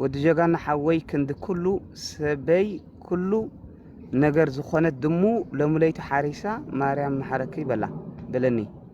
ወዲ ጀጋና ሓወይ ክንዲ ኩሉ ሰበይ ኩሉ ነገር ዝኾነት ድሙ ለሙለይቲ ሓሪሳ ማርያም መሓረኪ በላ በለኒ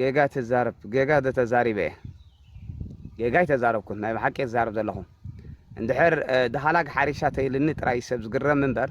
ጌጋ ትዛረብ ጌጋ ዶ ተዛሪበ እየ ጌጋ ኣይተዛረብኩን ናይ ብሓቂ ዝዛረብ ዘለኹ እንድሕር ድሃላግ ሓሪሻ ተይልኒ ጥራይ ሰብ ዝግረም እምበር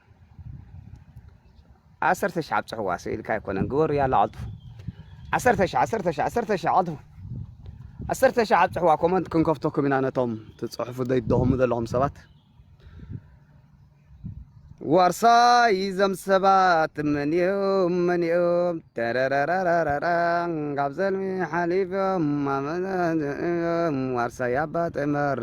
ዓሰርተ ሽሕ ኣብፅሕዋ ስኢልካ ኣይኮነን ግበሩ ያላ ዓልጥፉ ዓሰርተ ሽሕ ዓሰርተ ሽሕ ዓሰርተ ሽሕ ዓልጥፉ ዓሰርተ ሽሕ ኣብፅሕዋ ኮመንት ክንከፍተኩም ኢና ነቶም ትፅሕፉ ዘይደኹሙ ዘለኹም ሰባት ዋርሳይ ዘም ሰባት መን እዮም መን እዮም ተረረረረረ ካብ ዘልሚ ሓሊፎም ማመዘም ዋርሳይ ኣባ ጥመር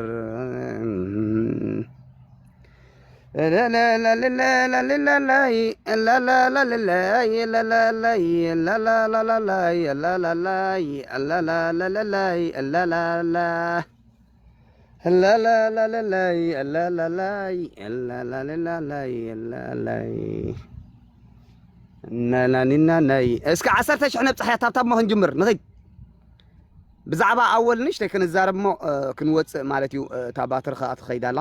እስከ ዓሰርተ ሽሕ ነብፅሕያ ታብታብ ሞ ክንጅምር ንኽድ ብዛዕባ ኣወል ንእሽተይ ክንዛረብ ሞ ክንወፅእ ማለት እዩ እታ ባትሪ ከዓ ትኸይድ ኣላ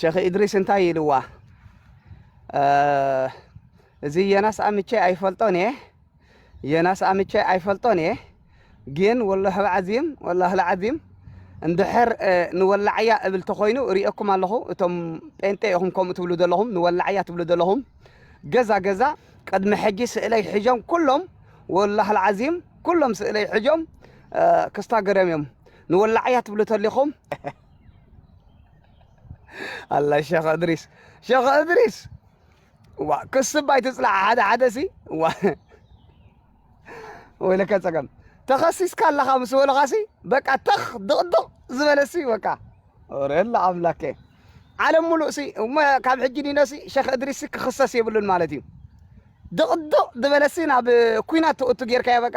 ሸኽ ኢድሪስ እንታይ ኢልዋ እዚ የናስ ኣምቼ ኣይፈልጦን እየ የናስ ኣምቼ ኣይፈልጦን እየ ግን ወላሂ ልዓዚም ወላሂ ልዓዚም እንድሕር ንወላዕያ እብል ተኾይኑ ርእየኩም ኣለኹ እቶም ጴንጤ ኢኹም ከምኡ ትብሉ ዘለኹም ንወላዕያ ትብሉ ዘለኹም ገዛ ገዛ ቅድሚ ሕጂ ስእለይ ሕጆም ኩሎም ወላሂ ልዓዚም ኩሎም ስእለይ ሕጆም ክስታ ገረም እዮም ንወላዕያ ትብሉ ተሊኹም ኣላ ሸኽ እድሪስ ሸኽ እድሪስ እዋ ክስብ ኣይትፅላዕ ሓደ ሓደ ሲ እዋ ወይለከ ፀገም ተኸሲስካ ኣለኻ ምስ በልኻ ሲ በቃ ተኽ ድቕድቕ ዝበለ ሲ በቃ ረላ ኣምላከ ዓለም ሙሉእ ሲ እሞ ካብ ሕጂ ዲነ ሲ ሸኽ እድሪስ ሲ ክኽሰስ የብሉን ማለት እዩ ድቕድቕ ዝበለ ሲ ናብ ኩናት ትእቱ ጌርካዮ በቃ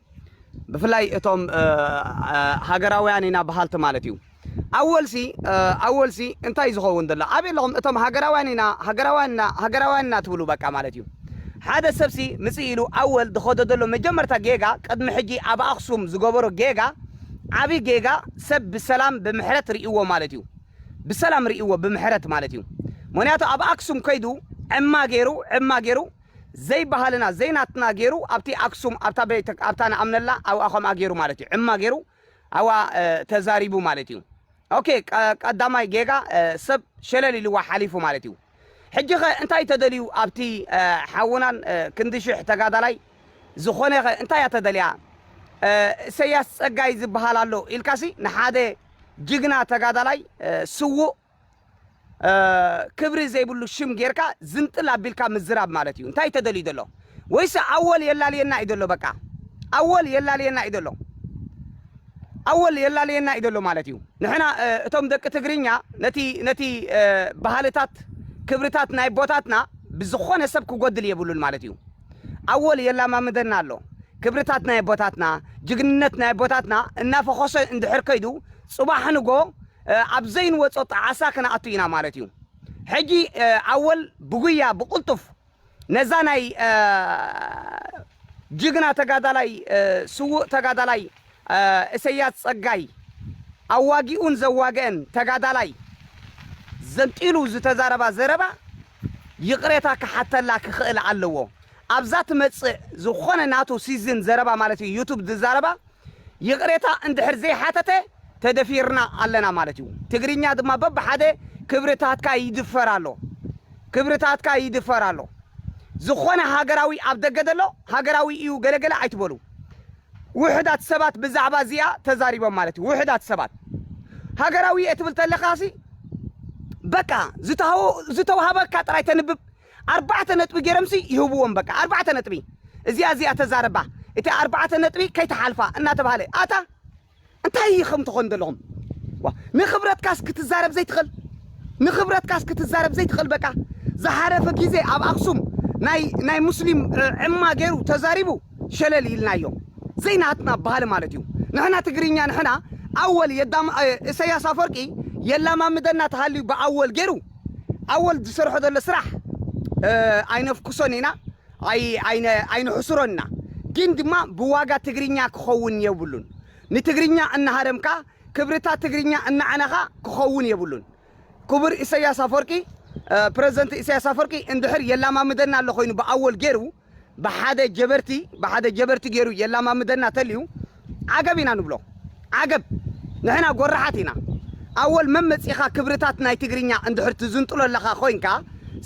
ብፍላይ እቶም ሃገራውያን ኢና በሃልቲ ማለት እዩ ኣወልሲ ኣወልሲ እንታይ ዝኸውን ዘሎ ኣበይ ኣለኹም እቶም ሃገራውያን ኢና ሃገራውያን ኢና ሃገራውያን ኢና ትብሉ በቃ ማለት እዩ ሓደ ሰብሲ ምፅእ ኢሉ ኣወል ዝኸዶ ዘሎ መጀመርታ ጌጋ ቅድሚ ሕጂ ኣብ ኣክሱም ዝገበሮ ጌጋ ዓብዪ ጌጋ ሰብ ብሰላም ብምሕረት ርእይዎ ማለት እዩ ብሰላም ርእይዎ ብምሕረት ማለት እዩ ምክንያቱ ኣብ ኣክሱም ከይዱ ዕማ ገይሩ ዕማ ገይሩ ዘይ ባህልና ዘይ ናትና ጌሩ ኣብቲ ኣክሱም ኣብታ ቤተ ኣብታ ንኣምነላ ኣብኣ ከምኣ ጌሩ ማለት እዩ ዕማ ጌሩ ኣብኣ ተዛሪቡ ማለት እዩ ኦኬ ቀዳማይ ጌጋ ሰብ ሸለል ኢልዋ ሓሊፉ ማለት እዩ ሕጂ ከ እንታይ ተደልዩ ኣብቲ ሓውናን ክንዲ ሽሕ ተጋዳላይ ዝኾነ ከ እንታይ እያ ተደልያ እሰያስ ጸጋይ ዝበሃል ኣሎ ኢልካሲ ንሓደ ጅግና ተጋዳላይ ስዉእ ክብሪ ዘይብሉ ሽም ጌርካ ዝንጥል ኣቢልካ ምዝራብ ማለት እዩ እንታይ ተደልዩ ዘሎ ወይስ ኣወል የላልየና እዩ ዘሎ በቃ ኣወል የላልየና እዩ ዘሎ ኣወል የላለየና እዩ ዘሎ ማለት እዩ ንሕና እቶም ደቂ ትግርኛ ነቲ ነቲ ባህልታት ክብርታት ናይ ቦታትና ብዝኾነ ሰብ ክጎድል የብሉን ማለት እዩ ኣወል የላማምደና ኣሎ ክብርታት ናይ ቦታትና ጅግንነት ናይ ቦታትና እናፈኾሰ እንድሕር ከይዱ ፅባሕ ንጎ ኣብ ዘይንወጾ ጣዕሳ ክንኣቱ ኢና ማለት እዩ። ሕጂ ኣወል ብጉያ ብቅልጡፍ ነዛ ናይ ጅግና ተጋዳላይ ስዉእ ተጋዳላይ እሰያስ ጸጋይ ኣዋጊኡን ዘዋገእን ተጋዳላይ ዘንጢሉ ዝተዛረባ ዘረባ ይቅሬታ ክሓተላ ክኽእል ኣለዎ ኣብዛ ትመጽእ ዝኾነ ናቱ ሲዝን ዘረባ ማለት እዩ ዩቱብ ዝዛረባ ይቕሬታ እንድሕር ዘይሓተተ ተደፊርና ኣለና ማለት እዩ። ትግርኛ ድማ በብሓደ ክብርታትካ ይድፈር ኣሎ። ክብርታትካ ይድፈር ኣሎ። ዝኾነ ሃገራዊ ኣብ ደገ ዘሎ ሃገራዊ እዩ ገለገለ ኣይትበሉ። ውሕዳት ሰባት ብዛዕባ እዚኣ ተዛሪቦም ማለት እዩ። ውሕዳት ሰባት ሃገራዊ እየ ትብል ተለኻሲ በቃ ዝተሃወ- ዝተውሃበካ ጥራይ ተንብብ ኣርባዕተ ነጥቢ ጌሮምሲ ይህብዎም በቃ ኣርባዕተ ነጥቢ እዚኣ እዚኣ ተዛረባ እቲ ኣርባዕተ ነጥቢ ከይተሓልፋ እናተባህለ ኣታ እንታይ ኢኹም ትኾኑ ዘለኹም ዋ ንኽብረትካስ ክትዛረብ ዘይትኽእል ንኽብረትካስ ክትዛረብ ዘይትኽእል በቃ ዝሓለፈ ግዜ ኣብ ኣክሱም ናይ ናይ ሙስሊም ዕማ ገይሩ ተዛሪቡ ሸለል ኢልናዮ ዘይናትና ባህሊ ማለት እዩ ንሕና ትግርኛ ንሕና ኣወል የዳም እሰያስ ኣፈወርቂ የላማምደና ተሃልዩ ብኣወል ገይሩ ኣወል ዝሰርሖ ዘሎ ስራሕ ኣይነፍኩሶን ኢና ኣይንሕስሮን ኢና ግን ድማ ብዋጋ ትግርኛ ክኸውን የብሉን ንትግርኛ እናሃረምካ ክብርታት ትግርኛ እናዕነኻ ክኸውን የብሉን ክቡር ኢሰያስ ኣፎርቂ ፕረዚደንት ኢሰያስ ኣፎርቂ እንድሕር የላማምደና ኣሎ ኮይኑ ብኣወል ጌሩ ብሓደ ጀበርቲ ብሓደ ጀበርቲ ጌሩ የላማምደና ተልዩ ዓገብ ኢና ንብሎ ዓገብ ንሕና ጎራሓት ኢና ኣወል መን መጺኻ ክብርታት ናይ ትግርኛ እንድሕር ትዝንጥሎ ኣለኻ ኮንካ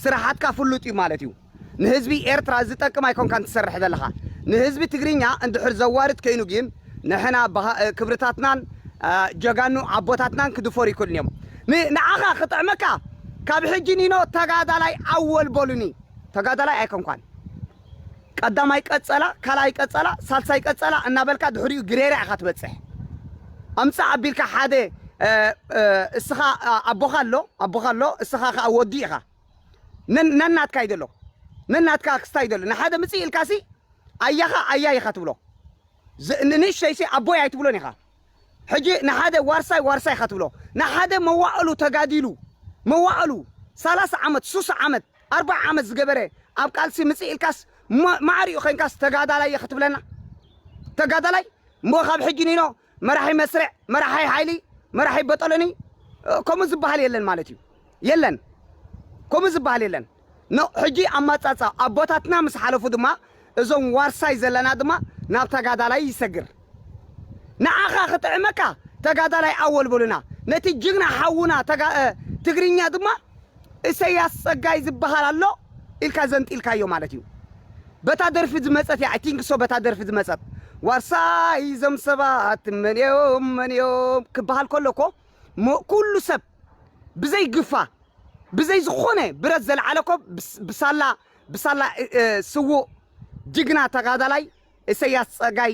ስራሓትካ ፍሉጥ እዩ ማለት እዩ ንህዝቢ ኤርትራ ዝጠቅም ኣይኮንካን ትሰርሕ ዘለኻ ንህዝቢ ትግርኛ እንድሕር ዘዋርድ ከይኑ ግን ንሕና ክብርታትናን ጀጋኑ ኣቦታትናን ክድፈሩ ይክእሉን እዮም ንዓኻ ክጥዕመካ ካብ ሕጂ ኒኖ ተጋዳላይ ኣወል በሉኒ ተጋዳላይ ኣይኮንኳን ቀዳማይ ቀጸላ ካልኣይ ቀጸላ ሳልሳይ ቀጸላ እናበልካ ድሕሪኡ ግሬራ ኢኻ ትበጽሕ ኣምጻእ ኣቢልካ ሓደ እስኻ ኣቦኻ ኣሎ ኣቦኻ ኣሎ እስኻ ከኣ ወዲ ኢኻ ነናትካ ይደሎ ነናትካ ኣክስታ ይደሎ ንሓደ ምጽእ ኢልካሲ ኣያኻ ኣያ ኢኻ ትብሎ ንንእሽተይሲ ኣቦይ ኣይትብሎን ኢኻ ሕጂ ንሓደ ዋርሳይ ዋርሳይ ኢኻ ትብሎ ንሓደ መዋእሉ ተጋዲሉ መዋእሉ ሰላሳ ዓመት ሱሳ ዓመት ኣርብዓ ዓመት ዝገበረ ኣብ ቃልሲ ምጽእ ኢልካስ ማዕሪኡ ኮንካስ ተጋዳላይ እየ ክትብለና ተጋዳላይ እሞ ካብ ሕጂ ንኢኖ መራሒ መስርዕ መራሒ ሓይሊ መራሒ በጠሎኒ ከምኡ ዝበሃል የለን ማለት እዩ የለን ከምኡ ዝበሃል የለን ሕጂ ኣማጻጻ ኣቦታትና ምስ ሓለፉ ድማ እዞም ዋርሳይ ዘለና ድማ ናብ ተጋዳላይ ይሰግር ንዓኻ ክጥዕመካ ተጋዳላይ ኣወል በሉና ነቲ ጅግና ሓውና ተጋ ትግርኛ ድማ እሰያስ ጸጋይ ዝብሃል ኣሎ ኢልካ ዘንጢልካዮ ማለት እዩ በታ ደርፊ ዝመጸት እያ ቲንክሶ በታ ደርፊ ዝመጸት ዋርሳይ እዞም ሰባት መን እዮም መን እዮም ክብሃል ከሎ እኮ ኩሉ ሰብ ብዘይ ግፋ ብዘይ ዝኾነ ብረት ዘልዓለ እኮ ብሳላ ብሳላ ስዉእ ጅግና ተጋዳላይ እሰያስ ጸጋይ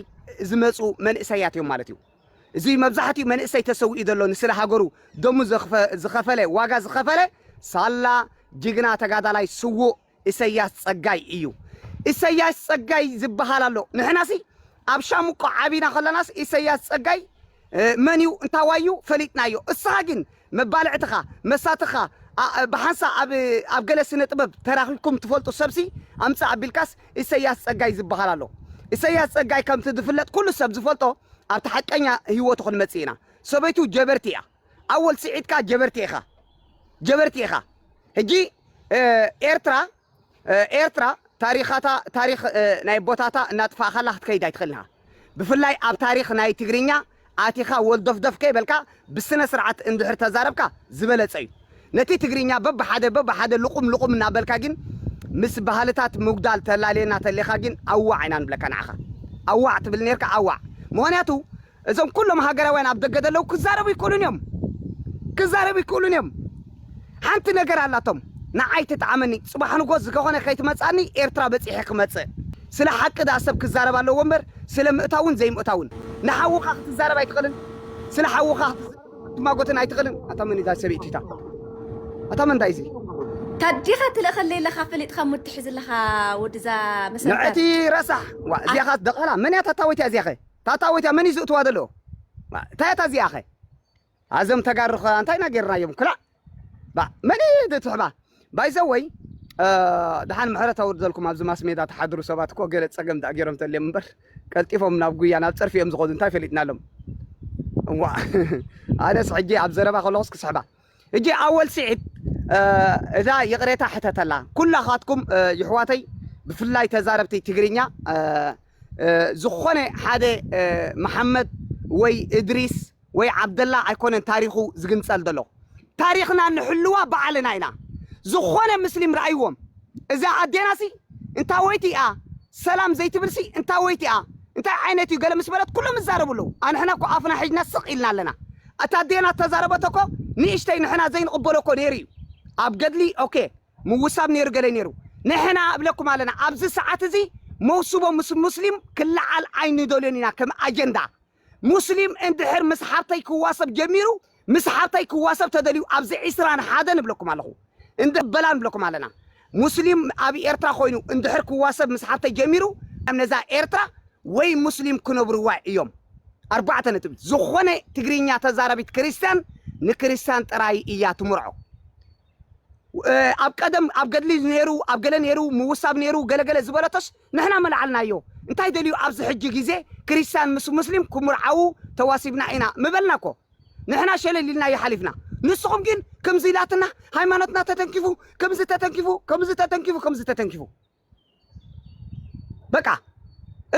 ዝመጹ መንእሰያት እዮም ማለት እዩ። እዚ መብዛሕትኡ መንእሰይ ተሰዊኡ ዘሎ ንስለ ሃገሩ ደሙ ዝኸፈለ ዋጋ ዝኸፈለ ሳላ ጅግና ተጋዳላይ ስዉእ እሰያስ ጸጋይ እዩ። እሰያስ ጸጋይ ዝበሃል ኣሎ። ንሕናሲ ኣብ ሻምቆ ዓቢና ከለናስ እሰያስ ጸጋይ መን እዩ እንታዋይ እዩ ፈሊጥናዮ። እስኻ ግን መባልዕትኻ፣ መሳትኻ፣ a ብሓንሳእ ኣብ ኣብ ገለ ስነ ጥበብ ተራኺብኩም ትፈልጡ ሰብሲ ኣምጽእ ኣቢልካስ ኢሰያስ ጸጋይ ዝብሃል ኣሎ። ኢሰያስ ጸጋይ ከምቲ ዝፍለጥ ኩሉ ሰብ ዝፈልጦ ኣብቲ ሓቀኛ ሂወቱ ክንመጽእ ኢና። ሰበይቱ ጀበርቲ ኢያ። ኣወል ስዒድ ከኣ ጀበርቲ ኢኻ። ጀበርቲ ኢኻ። ሕጂ ኤርትራ ኤርትራ ታሪኻታ ታሪኽ ናይ ኣቦታታ እናጥፋእኻላ ክትከይድ ኣይትኽእልን ኢኻ። ብፍላይ ኣብ ታሪኽ ናይ ትግርኛ ኣቲኻ ወልዶፍዶፍ ከይበልካ ብስነ ስርዓት እንድሕር ተዛረብካ ዝበለጸ እዩ። ነቲ ትግርኛ በብሓደ በብሓደ ልቑም ልቑም እናበልካ ጊን ምስ ባህልታት ምጉዳል ተላልየና ተሌኻ ጊን ኣዋዕ ኢና ንብለካ ንዓኻ። ኣዋዕ ትብል ኔርካ ኣዋዕ። ምኽንያቱ እዞም ኩሎም ሃገራውያን ኣብ ደገ ዘለዉ ክዛረቡ ይክእሉን እዮም ክዛረቡ ይክእሉን እዮም ሓንቲ ነገር ኣላቶም ንዓይ ትጥዓመኒ ጽባሕ ንጎስ ዝገኾነ ከይትመጽኣኒ ኤርትራ በጺሐ ክመጽእ ስለ ሓቂ ድኣ ሰብ ክዛረብ ኣለዎ እምበር ስለ ምእታውን ዘይምእታውን ንሓውኻ ክትዛረብ ኣይትኽእልን ስለ ሓውኻ ክትዛረብን ክትማጎትን ኣይትኽእልን ኣታ መን እዛ ሰበይቲ እታ ኣታ መን እንታይ እዚ ታዲኻ ትልእኸለይ ኣለኻ ፈሊጥኻ ሙድ ትሕዝ ኣለኻ ወድዛ መሰንተር ንዕቲ ረሳሕ ዋ እዚኣ ኻስ ደቓላ መን እያ ታታወይቲ እዚኣ ኸ ታታዊት እያ መን እዩ ዝእትዋ ዘሎ እንታይ እያ እዚኣ ከ ኣዞም ተጋሩ ከ እንታይ ኢና ጌርናዮም ክላእ ባእ መን እዩ ዝትሕባ ባይዘወይ ድሓን ምሕረት ኣውርደልኩም ኣብዚ ማስሜዳ ተሓድሩ ሰባት እኮ ገለ ፀገም ዳኣ ገይሮም ተልዮም እምበር ቀልጢፎም ናብ ጉያ ናብ ፀርፊ እዮም ዝኸዱ እንታይ ፈሊጥናሎም እዋ ኣነስ ሕጂ ኣብ ዘረባ ከለኹስ ክስሕባ ህጂ ኣወል ሲዒድ እዛ ይቅሬታ ሕተተላ ኩላካትኩም ይሕዋተይ ብፍላይ ተዛረብቲ ትግርኛ ዝኮነ ሓደ መሓመድ ወይ እድሪስ ወይ ዓብደላ ኣይኮነን ታሪኩ ዝግንጸል ዘሎ ታሪክና ንሕልዋ ባዕልና ኢና ዝኮነ ምስሊም ራኣይዎም እዛ ኣዴናሲ እንታወይቲ ኢያ ሰላም ዘይትብልሲ እንታወይቲ ኢያ እንታይ ዓይነት ኢዩ ገለ ምስ በለት ኩሎም ይዛረቡ ኣለዉ ኣንሕና እኮ ኣፍና ሒጅና ስቅ ኢልና ኣለና እታ ኣዴና እተዛረበቶ እኮ ንእሽተይ ንሕና ዘይንቕበሎ እኮ ነይሩ እዩ ኣብ ገድሊ ኦኬ ምውሳብ ነይሩ ገለ ነይሩ ንሕና እብለኩም ኣለና ኣብዚ ሰዓት እዚ መውስቦ ምስ ሙስሊም ክለዓል ኣይንደልዮን ኢና ከም ኣጀንዳ ሙስሊም እንድሕር ምስ ሓብተይ ክዋሰብ ጀሚሩ ምስ ሓብተይ ክዋሰብ ተደልዩ ኣብዚ ዒስራን ሓደን እብለኩም ኣለኹ እንድሕር በላ ንብለኩም ኣለና ሙስሊም ኣብ ኤርትራ ኮይኑ እንድሕር ክዋሰብ ምስ ሓብተይ ጀሚሩ ነዛ ኤርትራ ወይ ሙስሊም ክነብርዋ እዮም ኣርባዕተ ነጥቢ ዝኾነ ትግርኛ ተዛራቢት ክርስትያን ንክርስትያን ጥራይ እያ ትምርዖ ኣብ ቀደም ኣብ ገድሊ ነይሩ ኣብ ገለ ነይሩ ምውሳብ ነይሩ ገለገለ ዝበለቶስ ንሕና መላዓልናዮ እንታይ ደልዩ ኣብዚ ሕጂ ግዜ ክርስትያን ምስ ሙስሊም ክምርዓዉ ተዋሲብና ኢና ምበልና እኮ ንሕና ሸለል ኢልናዮ ሓሊፍና ንስኹም ግን ክምዚ ኢላትና ሃይማኖትና ተተንኪፉ ክምዚ ተተንኪፉ ክምዚ ተተንኪፉ ክምዚ ተተንኪፉ በቃ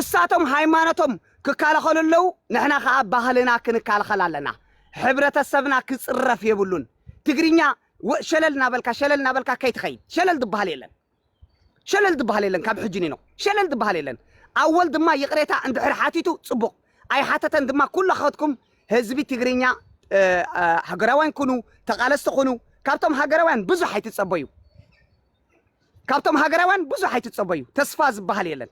እሳቶም ሃይማኖቶም ክካላኸሉ ኣለው ንሕና ከኣ ባህልና ክንካልኸል ኣለና ሕብረተሰብና ክጽረፍ የብሉን ትግርኛ ወ- ሸለል ናበልካ ሸለል ናበልካ ከይትኸይድ ሸለል ዝበሃል የለን ሸለል ዝብሃል የለን ካብ ሕጂ ኒኖ ሸለል ዝብሃል የለን ኣወል ድማ ይቅሬታ እንድሕር ሓቲቱ ጽቡቅ ኣይሓተተን ድማ ኩላካትኩም ህዝቢ ትግርኛ ሃገራውያን ኩኑ ተቃለስቲ ኩኑ ካብቶም ሃገራውያን ብዙሕ ኣይትጸበዩ ካብቶም ሃገራውያን ብዙሕ ኣይትጸበዩ ተስፋ ዝብሃል የለን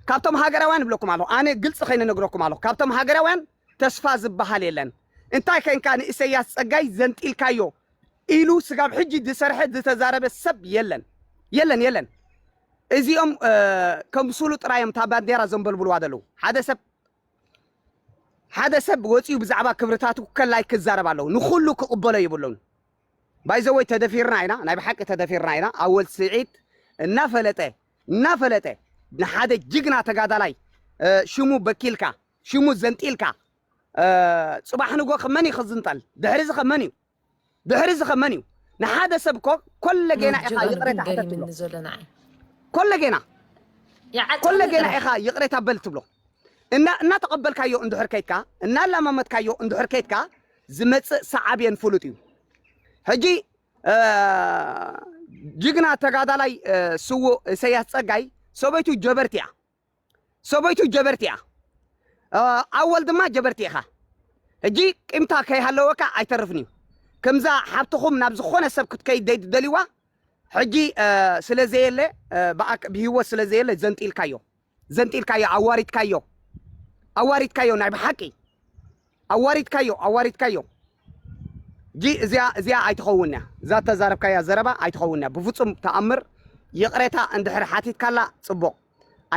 ካብቶም ሃገራውያን እብለኩም ኣለኹ ኣነ ግልጺ ከይነ ነግረኩም ኣለኹ ካብቶም ሃገራውያን ተስፋ ዝበሃል የለን እንታይ ከንካ ንኢሰያስ ጸጋይ ዘንጢልካዮ ኢሉ ስጋብ ሕጂ ዝሰርሐ ዝተዛረበ ሰብ የለን የለን የለን እዚኦም ከም ስሉ ጥራዮም እታ ባንዴራ ዘንበልብልዋ ዘለዉ ሓደ ሰብ ሓደ ሰብ ወፂኡ ብዛዕባ ክብርታቱ ከላይ ክዛረብ ኣለዉ ንኩሉ ክቕበሎ ይብሉን ባይዘወይ ተደፊርና ኢና ናይ ብሓቂ ተደፊርና ኢና ኣወል ስዒድ እናፈለጠ እናፈለጠ ንሓደ ጅግና ተጋዳላይ ሽሙ በኪልካ ሽሙ ዘንጢልካ ጽባሕ ንጎኸ መን እዩ ክዝንጠል? ድሕሪዚ ከ መን እዩ ድሕሪዚ ከ መን እዩ? ንሓደ ሰብ እኮ ኮለጌና ኢኻ ይቕሬታ ሕተት ትብሎ ኮለጌና ኮለጌና ኢኻ ይቕሬታ በል ትብሎ እና እናተቐበልካዮ እንድሕር ከይድካ እናላማመጥካዮ እንድሕር ከይድካ ዝመጽእ ሰዓብየን ፍሉጥ እዩ ሕጂ ጅግና ተጋዳላይ ስዉእ እሰያስ ጸጋይ ሰበይቱ ጀበርቲ እያ ሰበይቱ ጀበርቲ እያ ኣወል ድማ ጀበርቲ ኢኻ ሕጂ ቂምታ ከይሃለወካ ኣይተርፍን እዩ ከምዛ ሓብትኹም ናብ ዝኾነ ሰብ ክትከይድ ዘይትደልይዋ ሕጂ ስለ ዘየለ ብሂወት ስለ ዘየለ ዘንጢልካዮ ዘንጢልካዮ ኣዋሪድካዮ ኣዋሪድካዮ ናይ ብሓቂ ኣዋሪድካዮ ኣዋሪድካዮ ጂ እዚኣ እዚኣ ኣይትኸውን እያ እዛ ተዛረብካያ ዘረባ ኣይትኸውን እያ ብፍጹም ተኣምር ይቕሬታ እንድሕር ሓቲትካላ ጽቡቕ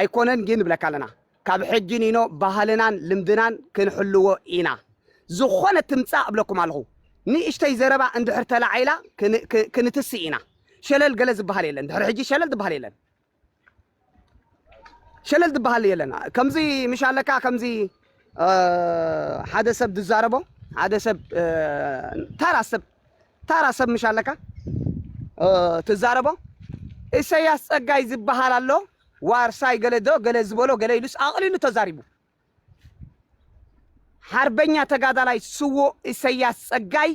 ኣይኮነን ግን ንብለካ ኣለና ካብ ሕጂ ኒኖ ባህልናን ልምድናን ክንሕልዎ ኢና ዝኾነ ትምጻእ እብለኩም ኣለኹ ንእሽተይ ዘረባ እንድሕር ተላዒላ ክንትስእ ኢና ሸለል ገለ ዝበሃል የለን ድሕሪ ሕጂ ሸለል ዝበሃል የለን ሸለል ዝበሃል የለን ከምዚ ምሽ ኣለካ ከምዚ ሓደ ሰብ ዝዛረቦ ሓደ ሰብ ታራ ሰብ ታራ ሰብ ምሽ ኣለካ ትዛረቦ ኢሰያስ ጸጋይ ዝበሃል ኣሎ ዋርሳይ ገለ ዶ ገለ ዝበሎ ገለ ኢሉስ ኣቕሊሉ ተዛሪቡ ሓርበኛ ተጋዳላይ ስዉእ ኢሰያስ ጸጋይ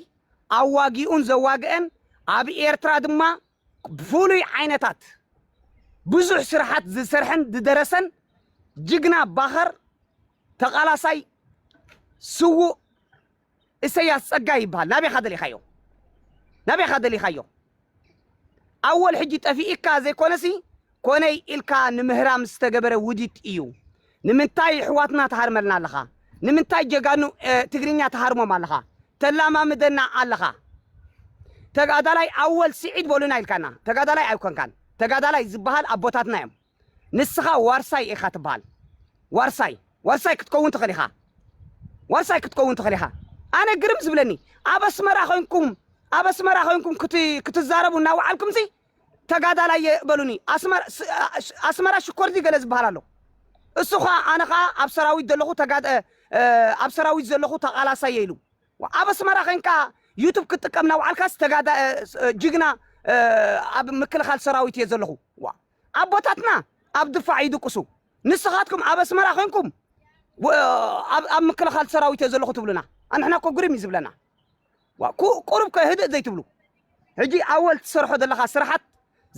ኣዋጊኡን ዘዋግአን ኣብ ኤርትራ ድማ ፍሉይ ዓይነታት ብዙሕ ስርሓት ዝሰርሐን ዝደረሰን ጅግና ባኸር ተቓላሳይ ስዉእ እሰያስ ጸጋይ ይበሃል። ናበይካ ደሊኻዮ ናበይካ ደሊኻዮ ኣወል ሕጂ ጠፊኢካ ዘይኮነሲ ኮነይ ኢልካ ንምህራም ዝተገበረ ውዲት እዩ ንምንታይ ይሕዋትና ትሃርመልና ኣለኻ ንምንታይ ጀጋኑ ትግርኛ ትሃርሞም ኣለኻ ተላማምደና ኣለኻ ተጋዳላይ ኣወል ስዒድ በሉና ኢልካና ተጋዳላይ ኣይኮንካን ተጋዳላይ ዝበሃል ኣቦታትና እዮም ንስኻ ዋርሳይ ኢኻ ትበሃል ዋርሳይ ዋርሳይ ክትከውን ትኽእል ኢኻ ዋርሳይ ክትከውን ትኽእል ኢኻ ኣነ ግርም ዝብለኒ ኣብ ኣስመራ ኮንኩም ኣብ ኣስመራ ኮንኩም ክትዛረቡ እናወዓልኩምሲ ተጋዳላይ እየ በሉኒ ኣስመራ ሽኮርዚ ገለ ዝብሃል ኣሎ እሱ ከኣ ኣነ ከኣ ኣብ ሰራዊት ዘለኹ ኣብ ሰራዊት ዘለኹ ተቓላሳይ እየ ኢሉ ኣብ ኣስመራ ዄንካ ዩቱብ ክትጥቀም ናውዓልካስ ተጋዳ ጅግና ኣብ ምክልኻል ሰራዊት እየ ዘለኹ ዋ ኣቦታትና ኣብ ድፋዕ ይድቅሱ ንስኻትኩም ኣብ ኣስመራ ዄንኩም ኣብ ምክልኻል ሰራዊት እየ ዘለኹ ትብሉና ኣንሕና እኮ ግርም እዩ ዝብለና ዋእ ቁሩብ ከ ህድእ ዘይትብሉ ሕጂ ኣወል ትሰርሖ ዘለኻ ስራሓት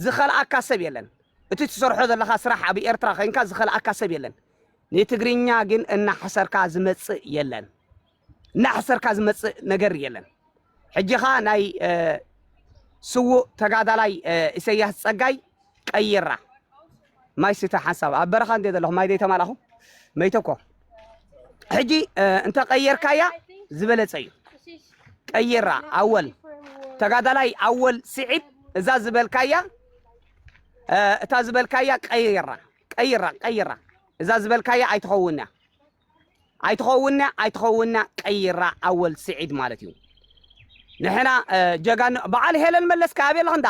ዝኸልኣካ ሰብ የለን እቲ ትሰርሖ ዘለኻ ስራሕ ኣብ ኤርትራ ኼንካ ዝኸልኣካ ሰብ የለን ንትግርኛ ግን እናሕሰርካ ዝመጽእ የለን እናሕሰርካ ዝመጽእ ነገር የለን ሕጂኻ ናይ ስዉእ ተጋዳላይ ኢሰያስ ጸጋይ ቀይራ ማይ ስተ ሓንሳብ ኣብ በረኻ እንተ ዘለኹም ማይ ዘይተማላኹም መይተ እኮ ሕጂ እንተ ቀየርካያ ዝበለጸ እዩ ቀይራ ኣወል ተጋዳላይ ኣወል ስዒድ እዛ ዝበልካያ እታ ዝበልካያ ቀይራ ቀይራ ቀይራ እዛ ዝበልካያ ኣይትኸውንያ ኣይትኸውንያ ኣይትኸውንያ ቀይራ ኣወል ስዒድ ማለት እዩ ንሕና ጀጋኑ በዓል ሄለን መለስ ከኣበየለኽ እንዳ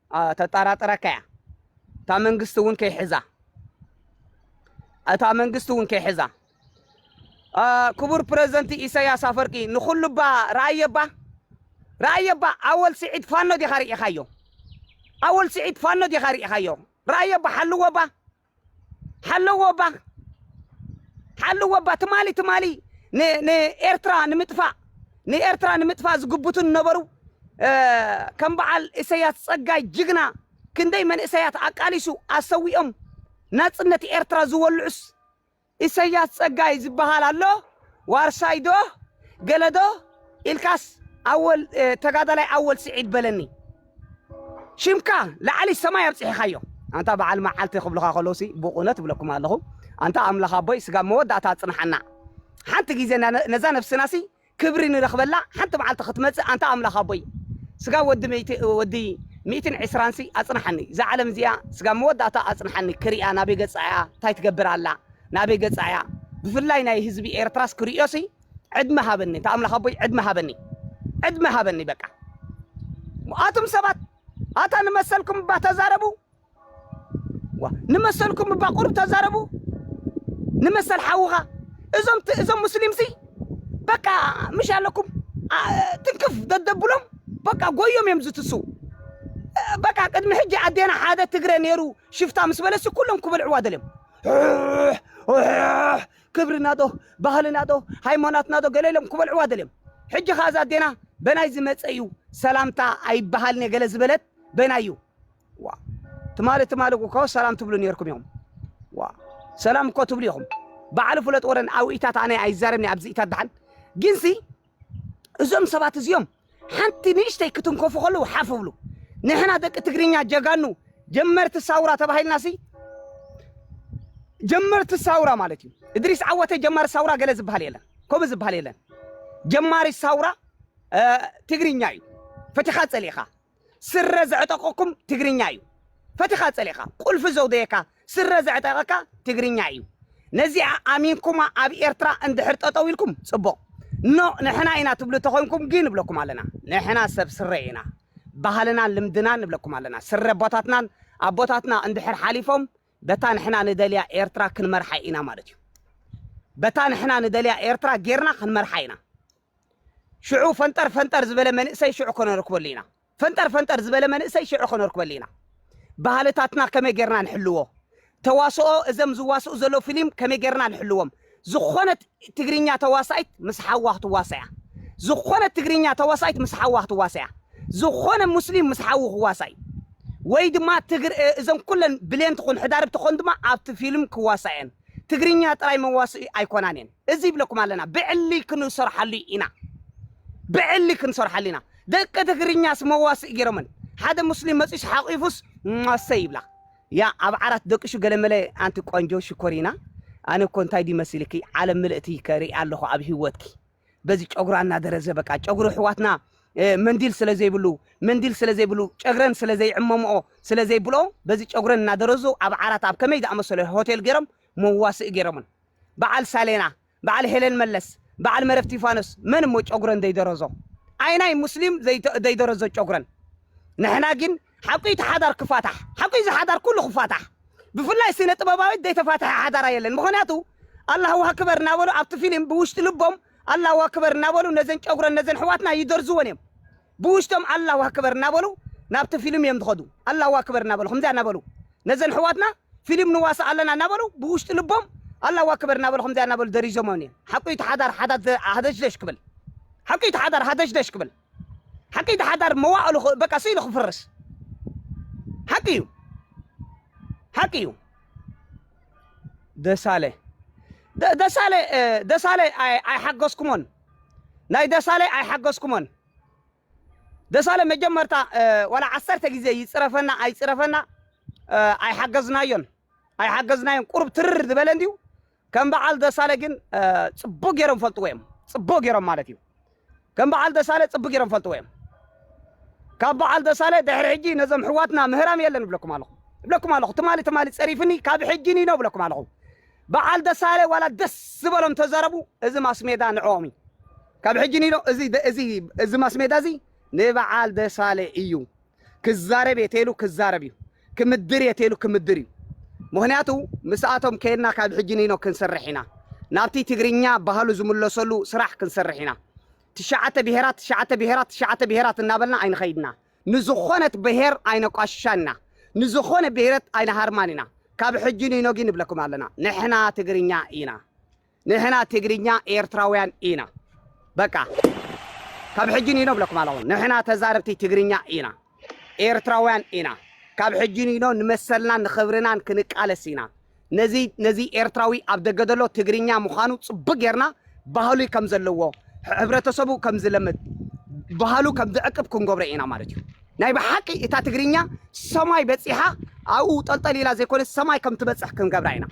ተጣራጥረካ እያ እታ መንግስቲ እውን ከይሕዛ እታ መንግስቲ እውን ከይሕዛ ክቡር ፕረዚደንት ኢሳያስ ኣፈርቂ ንኹሉ እባ ረኣየ እባ ረኣየ እባ ኣወል ስዒድ ፋኖ ዲኻ ርኢኻዮ ኣወል ስዒድ ፋኖ ዲኻ ርኢኻዮ ረኣየ እባ ሓልዎ እባ ሓለዎ እባ ሓለዎ እባ ትማሊ ትማሊ ንኤርትራ ንምጥፋእ ንኤርትራ ንምጥፋእ ዝግብቱ ነበሩ ከም በዓል ኢሰያስ ጸጋይ ጅግና ክንደይ መንእሰያት ኣቃሊሱ ኣሰዊኦም ናጽነት ኤርትራ ዝወልዑስ ኢሰያስ ጸጋይ ዝብሃል ኣሎ ዋርሳይ ዶ ገለ ዶ ኢልካስ ኣወል ተጋዳላይ ኣወል ስዒድ በለኒ ሽምካ ላዕሊ ሰማይ ኣብጺሒካዮ ኣንታ በዓል መዓልቲ ክብሉካ ከለውሲ ብቑነ ትብለኩም ኣለኹ ኣንታ ኣምላኽ ኣቦይ ስጋብ መወዳእታ ኣጽንሓና ሓንቲ ግዜ ነዛ ነፍስናሲ ክብሪ ንረኽበላ ሓንቲ መዓልቲ ክትመጽእ ኣንታ ኣምላኽ ኣቦይ ስጋ ወዲ ሚእቲ ወዲ ሚእትን ዕስራንሲ ኣጽንሓኒ እዛ ዓለም እዚኣ ስጋብ መወዳእታ ኣጽንሓኒ ክሪኣ ናበይ ገጻ እያ ታይ ትገብር ኣላ ናበይ ገጻ እያ ብፍላይ ናይ ህዝቢ ኤርትራስ ክሪኦሲ ዕድመ ሃበኒ እንታ ኣምላኽ ኣቦይ ዕድመ ሃበኒ ዕድመ ሃበኒ በቃ ኣቱም ሰባት ኣታ ንመሰልኩም እባ ተዛረቡ ዋእ ንመሰልኩም እባ ቁሩብ ተዛረቡ ንመሰል ሓውኻ እዞም ት- እዞም ሙስሊምሲ በቃ ምሽ ኣለኩም ኣ- ትንክፍ ደደብሎም በቃ ጎዮም እዮም ዝትስው እ፣ በቃ ቅድሚ ሕጂ ኣዴና ሓደ ትግረ ነይሩ ሽፍታ ምስ በለሲ ኩሎም ክበልዕዋ ደልዮም ሑሕ፣ ሑሕ፣ ክብርና ዶ ባህልና ዶ ሃይማኖትና ዶ ገለ ኢሎም ክበልዕዋ ደልዮም ሕጂ ከ እዛ ኣዴና በናይ ዝመፀ እዩ ሰላምታ ኣይበሃልን እየ ገለ ዝበለት በናይ እዩ ዋእ ትማሊ ትማሊ እኮ ሰላም ትብሉ ኔርኩም ኢኹም ዋእ ሰላም እኮ ትብሉ ኢኹም ባዕሉ ፍለጥ ወረን ኣውኢታት ኣነ ኣይዛረብኒ ኣብዚ ኢታት ድሓን ግንሲ እዞም ሰባት እዚኦም ሓንቲ ንእሽተይ ክትንከፉ ከለዉ ሓፍ ብሉ ንሕና ደቂ ትግርኛ ጀጋኑ ጀመርቲ ሳውራ ተባሂልና ሲ ጀመርቲ ሳውራ ማለት እዩ እድሪስ ዓወተ ጀማሪ ሳውራ ገለ ዝበሃል የለን ከምኡ ዝበሃል የለን ጀማሪ ሳውራ ትግርኛ እዩ ፈቲኻ ፀሊእኻ ስረ ዘዕጠቀኩም ትግርኛ እዩ ፈቲካ ጸሊእካ ቁልፊ ዘውደየካ ስረ ዘዕጠቀካ ትግርኛ እዩ ነዚኣ ኣሚንኩማ ኣብ ኤርትራ እንድሕር ጠጠው ኢልኩም ጽቡቅ ኖ ንሕና ኢና ትብሉ ተኮንኩም ግን ንብለኩም ኣለና ንሕና ሰብ ስረ ኢና ባህልናን ልምድናን ንብለኩም ኣለና ስረ ኣቦታትናን ኣቦታትና እንድሕር ሓሊፎም በታ ንሕና ንደልያ ኤርትራ ክንመርሓ ኢና ማለት እዩ በታ ንሕና ንደልያ ኤርትራ ጌርና ክንመርሓ ኢና ሽዑ ፈንጠር ፈንጠር ዝበለ መንእሰይ ሽዑ ከነርክበሉ ኢና። ፈንጠር ፈንጠር ዝበለ መንእሰይ ሽዑ ከነርክበሉ ኢና። ባህልታትና ከመይ ጌርና ንሕልዎ? ተዋስኦ እዘም ዝዋስኡ ዘለዉ ፊሊም ከመይ ጌርና ንሕልዎም? ዝኾነት ትግርኛ ተዋሳኢት ምስ ሓዋ ክትዋሳእ እያ። ዝኾነት ትግርኛ ተዋሳኢት ምስ ሓዋ ክትዋሳእ እያ። ዝኾነ ሙስሊም ምስ ሓዉ ክዋሳእ እዩ። ወይ ድማ ትግር እ፣ እዘን ኩለን ብሌን ትኹን ሕዳርብ ትኾን ድማ ኣብቲ ፊልም ክዋሳእ እየን። ትግርኛ ጥራይ መዋስኢ ኣይኮናን እየን። እዚ ይብለኩም ኣለና ብዕሊ ክንሰርሓሉ ኢና ብዕሊ ክንሰርሓሉ ኢና ደቂ ትግርኛስ መዋስኢ ጌሮመን ሓደ ሙስሊም መጺኡስ ሓቂፉስ ሟሰ ይብላ ያ ኣብ ዓራት ደቂሹ ገለመለ ኣንቲ ቆንጆ ሽኮሪና ኣነ እኮ እንታይ ድዩ መሲልኪ ዓለም ምልእቲ ከርኢ ኣለኹ ኣብ ህይወትኪ በዚ ጨጉራ እናደረዘ በቃ ጨጉሪ ሕዋትና መንዲል ስለ ዘይብሉ መንዲል ስለ ዘይብሉ ጨግረን ስለ ዘይዕመምኦ ስለ ዘይብልኦ በዚ ጨጉረን እናደረዙ ኣብ ዓራት ኣብ ከመይ ዝኣመሰለ ሆቴል ገይሮም መዋስኢ ገይሮምን በዓል ሳሌና በዓል ሄለን መለስ በዓል መረብ ቲፋኖስ መን እሞ ጨጉረን ዘይደረዞ ኣይናይ ሙስሊም ዘይደረዞ ጨጉረን ንሕና ጊን ሓቁ እቲ ሓዳር ክፋታሕ ሓቁ እዚ ሓዳር ኩሉ ክፋታሕ ብፍላይ ስነ ጥበባዊት ዘይተፋትሐ ሓዳራ የለን ምክንያቱ ኣላሁ ኣክበር እናበሉ ኣብቲ ፊሊም ብውሽጢ ልቦም ኣላሁ ኣክበር እናበሉ ነዘን ጨጉረን ነዘን ኣሕዋትና ይደርዝወን እዮም ብውሽጦም ኣላሁ ኣክበር እናበሉ ናብቲ ፊልም እዮም ዝኸዱ ኣላሁ ኣክበር እናበሉ ከምዚኣ እናበሉ ነዘን ኣሕዋትና ፊልም ንዋሳእ ኣለና እናበሉ ብውሽጢ ልቦም ኣላሁ ኣክበር እናበሉ ከምዚኣ እናበሉ ደሪዞሞን እዮም ሓቁ እቲ ሓዳር ሓዳር ሃደሽደሽ ክብል ሓቁ እቲ ሓዳር ሃደሽደሽ ክብል ሓቂ እቲ ሓዳር መዋእሉ በቃ ስኢሉ ክፍርስ ሓቂ እዩ ሓቂ እዩ ደሳለ ደ- ደሳለ እ፣ ደሳለ ኣይ- ኣይሓገዝኩሞን ናይ ደሳለይ ኣይሓገዝኩሞን ደሳለ መጀመርታ ዋላ ዓሰርተ ግዜ ይጽረፈና ኣይጽረፈና ኣይሓገዝናዮን ኣይሓገዝናዮን ቁሩብ ትርር ዝበለ እንድዩ ከም በዓል ደሳለ ግን ጽቡቅ ገይሮም ፈልጥዎ እዮም ጽቡቅ ገይሮም ማለት እዩ ከም በዓል ደሳለ ጽቡቅ ገይሮም ፈልጥዎ እዮም ካብ በዓል ደሳለ ድሕሪ ሕጂ ነዞም ሕዋትና ምህራም የለን እብለኩም ኣለኹ እብለኩም ኣለኹ ትማሊ ትማሊ ጸሪፍኒ ካብ ሕጂ ኒኖ እብለኩም ኣለኹ በዓል ደሳለ ዋላ ደስ ዝበሎም ተዘረቡ እዚ ማስሜዳ ንዕኦም እዩ ካብ ሕጂ ኒዶ እዚ እዚ እዚ ማስሜዳ እዚ ንበዓል ደሳለ እዩ ክዛረብ እየ ተይሉ ክዛረብ እዩ ክምድር እየ ተይሉ ክምድር እዩ ምክንያቱ ምስኣቶም ከይድና ካብ ሕጂ ኒኖ ክንሰርሕ ኢና ናብቲ ትግርኛ ባህሉ ዝምለሰሉ ስራሕ ክንሰርሕ ኢና ትሽዓተ ብሄራት ትሽዓተ ብሄራት ትሽዓተ ብሄራት እናበልና ኣይንኸይድና ንዝኾነት ብሄር ኣይነቋሽሻን ኢና ንዝኾነ ብሄረት ኣይንሃርማን ኢና ካብ ሕጂ ንይኖጊ ንብለኩም ኣለና ንሕና ትግርኛ ኢና ንሕና ትግርኛ ኤርትራውያን ኢና በቃ ካብ ሕጂ ንይኖ ብለኩም ኣለኹ ንሕና ተዛረብቲ ትግርኛ ኢና ኤርትራውያን ኢና ካብ ሕጂ ንይኖ ንመሰልናን ንኽብርናን ክንቃለስ ኢና ነዚ ነዚ ኤርትራዊ ኣብ ደገ ዘሎ ትግርኛ ምዃኑ ጽቡቅ ጌርና ባህሉ ከም ዘለዎ ሕብረተሰቡ ከም ዝለምድ ባህሉ ከም ዝዕቅብ ክንገብሮ ኢና ማለት እዩ ናይ ብሓቂ እታ ትግርኛ ሰማይ በጺሓ ኣብኡ ጠልጠል ኢላ ዘይኮነ ሰማይ ከም ትበጽሕ ክንገብራ ኢና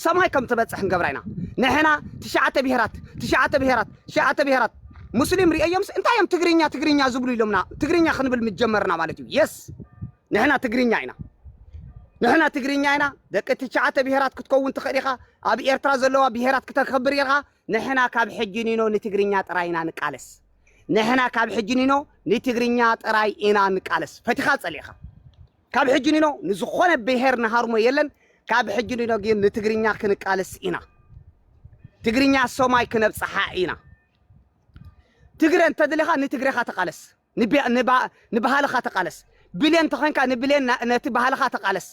ሰማይ ከም ትበጽሕ ክንገብራ ኢና ንሕና ትሽዓተ ብሄራት ትሽዓተ ብሄራት ትሽዓተ ብሄራት ሙስሊም ርእዮምስ እንታይ እዮም ትግርኛ ትግርኛ ዝብሉ ኢሎምና ትግርኛ ክንብል ምጀመርና ማለት እዩ የስ ንሕና ትግርኛ ኢና ንሕና ትግርኛ ኢና ደቂ ትሽዓተ ብሄራት ክትከውን ትኽእል ኢኻ ኣብ ኤርትራ ዘለዋ ብሄራት ክተከብር ኢኻ ንሕና ካብ ሕጂ ኒኖ ንትግርኛ ጥራይ ኢና ንቃለስ ንሕና ካብ ሕጂ ኒኖ ንትግርኛ ጥራይ ኢና ንቃለስ ፈቲኻ ጸሊእኻ ካብ ሕጂ ኒኖ ንዝኾነ ብሄር ንሃርሞ የለን ካብ ሕጂ ኒኖ ግን ንትግርኛ ክንቃለስ ኢና ትግርኛ ሰማይ ክነብጽሓ ኢና ትግረ እንተድልኻ ንትግረኻ ተቃለስ ንባህልኻ ተቓለስ ብሌን ተኾይንካ ንብሌን ነቲ ባህልኻ ተቓለስ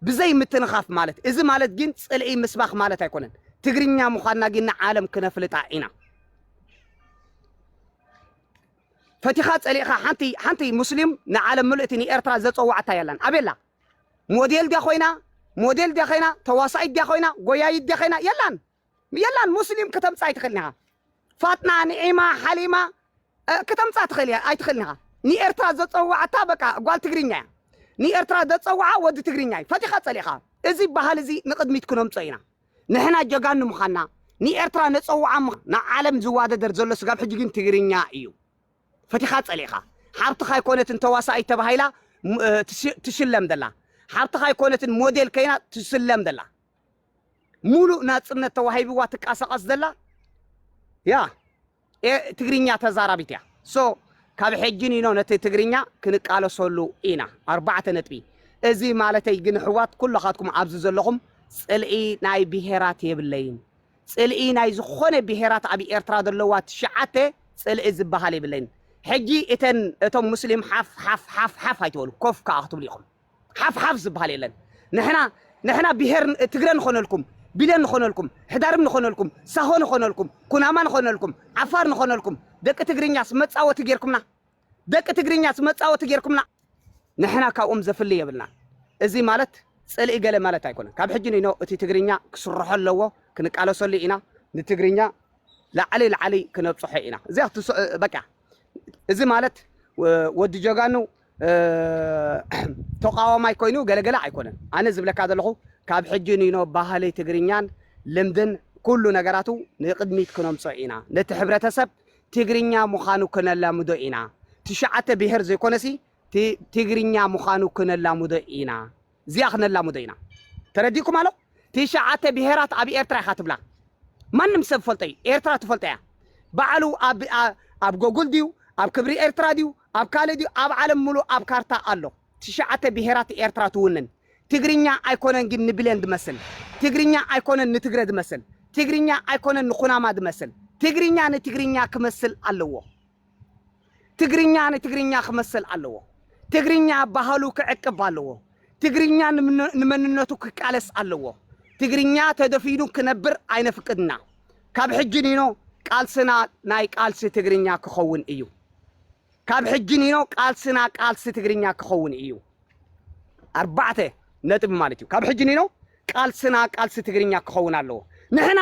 ብዘይ ምትንኻፍ ማለት እዚ ማለት ግን ጽልኢ ምስባኽ ማለት ኣይኮነን ትግርኛ ምዃንና ግን ንዓለም ክነፍልጣ ኢና ፈቲኻ ጸሊእኻ ሓንቲ ሓንቲ ሙስሊም ንዓለም ምልእቲ ንኤርትራ ዘጸዋዕታ የላን ኣቤላ ሞዴል ድያ ኮይና ሞዴል ድያ ኮይና ተዋሳኢት ድያ ኮይና ጎያይት ድያ ኮይና የላን የላን ሙስሊም ክተምጽእ ኣይትኽእልን ኢኻ ፋጥና ንዒማ ሓሊማ ክተምጻ ትኽእል ኣይትኽእልን ኢኻ ንኤርትራ ዘጸዋዕታ በቃ ጓል ትግርኛ እያ ንኤርትራ ዘጸዋዓ ወዲ ትግርኛ እዩ ፈቲኻ ጸሊእኻ እዚ ባህል እዚ ንቕድሚት ክነምጾ ኢና ንሕና ጀጋኑ ምዃንና ንኤርትራ ነጸዋዓ ንዓለም ዝዋደደር ዘሎ ስጋብ ሕጂ ግን ትግርኛ እዩ ፈቲኻ ጸሊእኻ ሓብትኻ ኣይኮነትን ተዋሳኢት ተባሂላ ትሽለም ዘላ ሓብትኻ ኣይኮነትን ሞዴል ከይና ትስለም ዘላ ሙሉእ ናጽነት ተዋሂብዋ ትቃሳቀስ ዘላ ያ ትግርኛ ተዛራቢት እያ ሶ ካብ ሕጂ ኒኖ ነቲ ትግርኛ ክንቃለሰሉ ኢና ኣርባዕተ ነጥቢ እዚ ማለተይ ግን ሕዋት ኩሎኻትኩም ኣብዚ ዘለኹም ጽልኢ ናይ ብሄራት የብለይን ጽልኢ ናይ ዝኾነ ብሄራት ኣብ ኤርትራ ዘለዋ ትሽዓተ ጽልኢ ዝበሃል የብለይን። ሕጂ እተን እቶም ሙስሊም ሓፍ ሓፍ ሓፍ ሓፍ ኣይትበሉ ኮፍ ከዓ ክትብሉ ኢኹም። ሓፍ ሓፍ ዝብሃል የለን ንሕና ንሕና ብሄር ትግረ ንኾነልኩም ቢለን ንኾነልኩም ሕዳርም ንኾነልኩም ሳሆ ንኾነልኩም ኩናማ ንኾነልኩም ዓፋር ንኾነልኩም ደቂ ትግርኛስ መጻወቲ ጌርኩምና ደቂ ትግርኛስ መጻወቲ ጌርኩምና ንሕና ካብኦም ዘፍሊ የብልናን እዚ ማለት ጽልኢ ገለ ማለት ኣይኮነን ካብ ሕጂ ንኖ እቲ ትግርኛ ክስርሖ ኣለዎ ክንቃለሰሉ ኢና ንትግርኛ ላዕሊ ላዕሊ ክነብጽሖ ኢና እዚያ በቃ እዚ ማለት ወዲ ጀጋኑ ተቋዋማይ ኮይኑ ገለ ገለ ኣይኮነን ኣነ ዝብለካ ዘለኹ ካብ ሕጂ ንይኖ ባህሊ ትግርኛን ልምድን ኩሉ ነገራቱ ንቅድሚት ክነምጾ ኢና ነቲ ሕብረተሰብ ትግርኛ ምኻኑ ክነላምዶ ኢና ትሽዓተ ብሄር ዘይኮነሲ ትግርኛ ምኻኑ ክነላምዶ ኢና እዚኣ ክነላምዶ ኢና ተረዲእኩም ኣሎ ትሽዓተ ብሄራት ኣብ ኤርትራ ኢኻ ትብላ ማንም ሰብ ዝፈልጦ እዩ ኤርትራ ትፈልጦ እያ ባዕሉ ኣብ ኣብ ጎጉል ድዩ ኣብ ክብሪ ኤርትራ ድዩ ኣብ ካልእ ድዩ ኣብ ዓለም ምሉእ ኣብ ካርታ ኣሎ ትሽዓተ ብሄራት ኤርትራ ትውንን ትግርኛ ኣይኮነን ግን ንብሌን ዝመስል ትግርኛ ኣይኮነን ንትግረ ዝመስል ትግርኛ ኣይኮነን ንኩናማ ዝመስል ትግርኛ ንትግርኛ ክመስል ኣለዎ ትግርኛ ንትግርኛ ክመስል ኣለዎ። ትግርኛ ባህሉ ክዕቅብ ኣለዎ። ትግርኛ ንመንነቱ ክቃለስ ኣለዎ። ትግርኛ ተደፊኑ ክነብር ኣይነፍቅድ እና። ካብ ሕጂ ኒኖ ቃልስና ናይ ቃልሲ ትግርኛ ክኸውን እዩ። ካብ ሕጂ ኒኖ ቃልስና ቃልሲ ትግርኛ ክኸውን እዩ። ኣርባዕተ ነጥቢ ማለት እዩ። ካብ ሕጂ ኒኖ ቃልስና ቃልሲ ትግርኛ ክኸውን ኣለዎ። ንሕና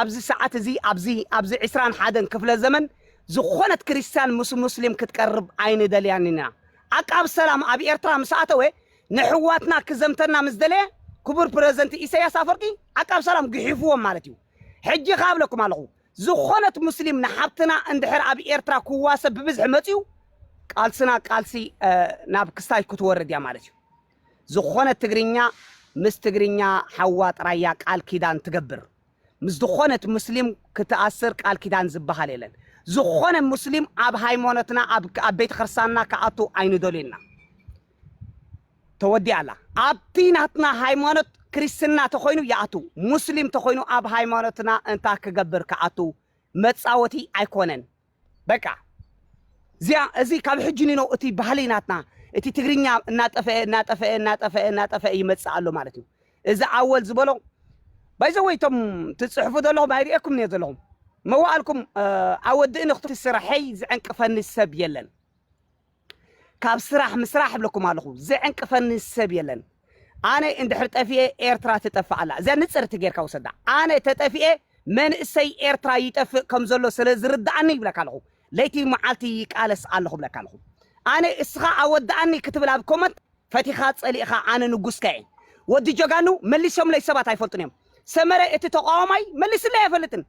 ኣብዚ ሰዓት እዚ ኣብዚ ኣብዚ ዕስራን ሓደን ክፍለ ዘመን ዝኾነት ክርስትያን ምስ ሙስሊም ክትቀርብ ኣይንደልያን ኢና። ዓቃብ ሰላም ኣብ ኤርትራ ምስ ኣተወ ነሕዋትና ክዘምተና ምስ ደለየ ክቡር ፕረዘንቲ ኢሰያስ ኣፈርቂ ዓቃብ ሰላም ግሒፍዎም ማለት እዩ። ሕጂ ከኣ እብለኩም ኣለኹ ዝኾነት ሙስሊም ንሓብትና እንድሕር ኣብ ኤርትራ ክዋሰብ ብብዝሒ መጽዩ ቃልስና ቃልሲ ናብ ክስታይ ክትወርድ እያ ማለት እዩ። ዝኾነት ትግርኛ ምስ ትግርኛ ሓዋ ጥራይ እያ ቃል ኪዳን ትገብር ምስ ዝኾነት ሙስሊም ክትኣስር ቃል ኪዳን ዝብሃል የለን ዝኾነ ሙስሊም ኣብ ሃይሞኖትና ኣብ ኣብ ቤተ ክርስቲያንና ክኣቱ ኣይንደልዩና ተወዲኣ ኣላ ኣብቲ ናትና ሃይማኖት ክርስትና ተኾይኑ ይኣቱ ሙስሊም ተኾይኑ ኣብ ሃይማኖትና እንታይ ክገብር ክኣቱ መጻወቲ ኣይኮነን በቃ እዚኣ እዚ ካብ ሕጂ ኒኖ እቲ ባህሊ ናትና እቲ ትግርኛ እናጠፈአ እናጠፈአ እናጠፈአ እናጠፈአ ይመጽእ ኣሎ ማለት እዩ እዚ ኣወል ዝበሎ ባይዘወይ እቶም ትጽሕፉ ዘለኹም ኣይርእየኩም እየ ዘለኹም መዋእልኩም ኣወድእኒ ክትስራሐይ ዝዕንቅፈኒ ሰብ የለን ካብ ስራሕ ምስራሕ እብለኩም ኣለኹ ዝዕንቅፈኒ ሰብ የለን ኣነ እንድሕር ጠፊኤ ኤርትራ ትጠፍእ ኣላ እዚኣ ንጽርቲ ጌርካ ውሰዳ ኣነ ተጠፊኤ መንእሰይ ኤርትራ ይጠፍእ ከም ዘሎ ስለ ዝርድኣኒ ይብለካ ኣለኹ ለይቲ መዓልቲ ይቃለስ ኣለኹ ብለካ ኣለኹ ኣነ እስኻ ኣወድኣኒ ክትብል ኣብ ኮመንት ፈቲኻ ጸሊእኻ ኣነ ንጉስካ እየ ወዲ ጀጋኑ መሊሶምለይ ሰባት ኣይፈልጡን እዮም ሰመረ እቲ ተቃዋማይ መሊስለይ ኣይፈልጥን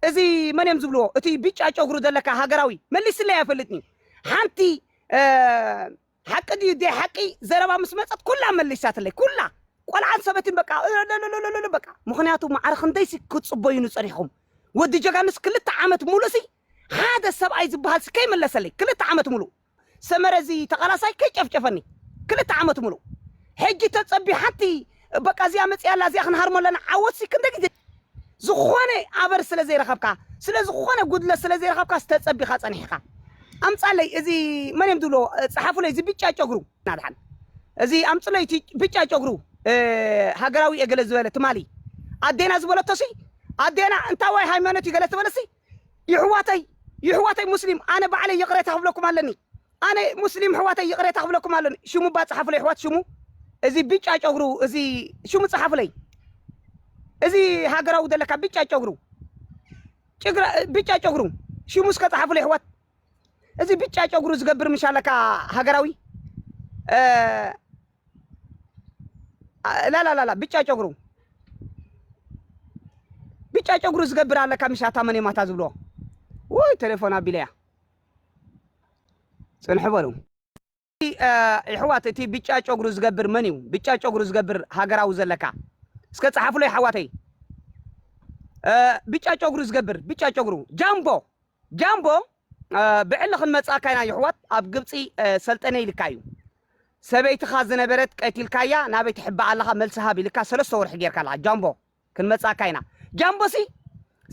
እዚ መን እዮም ዝብልዎ እቲ ብጫ ጨጉሩ ዘለካ ሃገራዊ መሊስለይ ኣይፈልጥን እዩ ሓንቲ ሓቂ ድዩ ደይ ሓቂ ዘረባ ምስ መፀት ኩላ መሊሳትለይ ኩላ ቆልዓን ሰበትን በቃ እለለለለለለ በቃ ምክንያቱ ማዕረ ክንደይሲ ክትፅበዩኑ ፀኒሕኹም ወዲ ጀጋኑስ ክልተ ዓመት ሙሉእሲ ሓደ ሰብኣይ ዝበሃልሲ ከይመለሰለይ ክልተ ዓመት ሙሉእ ሰመረ እዚ ተቓላሳይ ከይጨፍጨፈኒ ክልተ ዓመት ሙሉእ ሕጂ ተፀቢ ሓንቲ በቃ እዚኣ መጺኣ ኣላ እዚኣ ክንሃርሞ ኣለና ዓወት ሲ ክንደይ ግዜ ዝኾነ ኣበር ስለ ዘይረኸብካ ስለ ዝኾነ ጉድለት ስለ ዘይረኸብካስ ተጸቢኻ ጸኒሕካ ኣምጻለይ እዚ መን እዮም ዝብሎ ጸሓፉለይ እዚ ብጫ ጨጉሩ ናድሓን እዚ ኣምጽለይ እቲ ብጫ ጨጉሩ ሃገራዊ እየ ገለ ዝበለ ትማሊ ኣዴና ዝበለቶሲ ኣዴና እንታይ ዋይ ሃይማኖት እዩ ገለ ዝበለሲ ይሕዋተይ ይሕዋተይ ሙስሊም ኣነ ባዕለይ ይቅሬታ ክብለኩም ኣለኒ ኣነ ሙስሊም ሕዋተይ ይቅሬታ ክብለኩም ኣለኒ ሽሙ እባ ጸሓፉለይ ኣሕዋት ሽሙ እዚ ብጫ ጨጉሩ እዚ ሽሙ ጸሓፉለይ እዚ ሃገራዊ ዘለካ ብጫ ጨጉሩ ጭግራ ብጫ ጨጉሩ ሽሙ እስከ ጸሓፉለይ ኣሕዋት እዚ ብጫ ጨጉሩ ዝገብር ምሻለካ ሃገራዊ ላላላላ ብጫ ጨጉሩ ብጫ ጨጉሩ ዝገብር ኣለካ ምሻታ መን ማታ ዝብልዎ ውይ ቴሌፎን ኣቢለያ ፅንሑ በሉ ይሕዋት እቲ ብጫ ጨጉሩ ዝገብር መን እዩ ብጫ ጨጉሩ ዝገብር ሃገራዊ ዘለካ እስከ ፀሓፍሎ ይሓዋተይ ብጫ ጨጉሩ ዝገብር ብጫ ጨጉሩ ጃምቦ ጃምቦ ብዕሊ ክንመጽኣካ ኢና የሕዋት ኣብ ግብጺ ሰልጠነ ኢልካ እዩ ሰበይትኻ ዝነበረት ቀቲልካያ ናበይ ትሕባእ ኣለኻ መልሲ ሃብ ኢልካ ሰለስተ ወርሒ ጌርካ ኣለኻ ጃምቦ ክንመጽኣካ ኢና ጃምቦሲ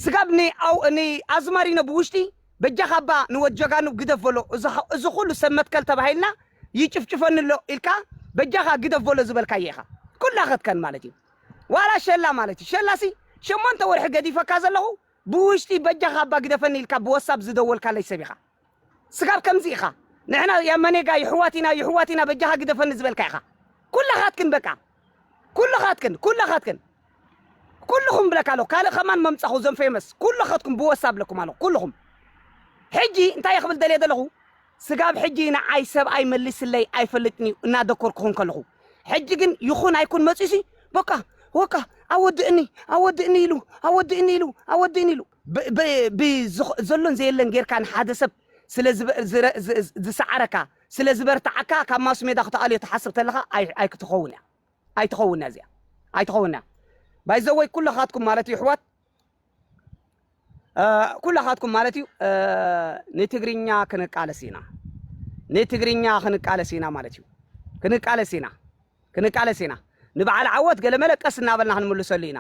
ስጋብ ን ኣው ን ኣዝማሪኖ ብውሽጢ በጃኻ እባ ንወድ ጀጋኑ ግደፍ በሎ እዚ ኩሉ ሰብ መትከል ተባሂልና ይጭፍጭፈኒ ኣሎ ኢልካ በጃኻ ግደፍ በሎ ዝበልካዮ ኢኻ ኩላ ከትከን ማለት እዩ ዋላ ሸላ ማለት እዩ ሸላሲ ሸሞንተ ወርሒ ገዲፈካ ዘለኹ ብውሽጢ በጃኻ ኣባ ግደፈኒ ኢልካ ብወሳብ ዝደወልካለይ ሰብ ኢኻ ስጋብ ከምዚ ኢኻ ንሕና ያመኔጋ ይሕዋት ኢና ይሕዋት ኢና በጃኻ ግደፈኒ ዝበልካ ኢኻ ኩላኻትክን በቃ ኩልኻትክን ኩላኻትክን ኩልኹም ብለካ ኣለኹ ካልእ ከማን መምጻኹ ዘም ፌመስ ኩልኻትኩም ብወሳብ ብለኩም ኣለኹ ኩልኹም ሕጂ እንታይ እየ ክብል ደልየ ዘለኹ ስጋብ ሕጂ ንዓይ ሰብኣይ መሊስለይ ኣይፈልጥን'ዩ እናደኮርኩ ከለኹ። ሕጂ ግን ይኹን ኣይኩን መጺኡሲ በቃ ወቃ ኣወድእኒ ኣወድእኒ ኢሉ ኣወድእኒ ኢሉ ኣወድእኒ ኢሉ። ብ ዘሎን ዘየለን ጌርካ ንሓደ ሰብ ስለ ዝሰዓረካ ስለ ዝበርትዓካ ካብ ማስሜዳ ክትኣልዮ ትሓስብ ተለኻ ኣይክትኸውን'ያ ኣይትኸውን'ያ እዚኣ ኣይትኸውን'ያ ባይዘወይ ኩለኻትኩም ማለት የሕዋት ኩላኻትኩም ማለት እዩ ንትግርኛ ክንቃለስ ኢና ንትግርኛ ክንቃለስ ኢና ማለት እዩ ክንቃለስ ኢና ክንቃለስ ኢና ንበዓል ዓወት ገለመለ ቀስ እናበልና ክንምልሰሉ ኢና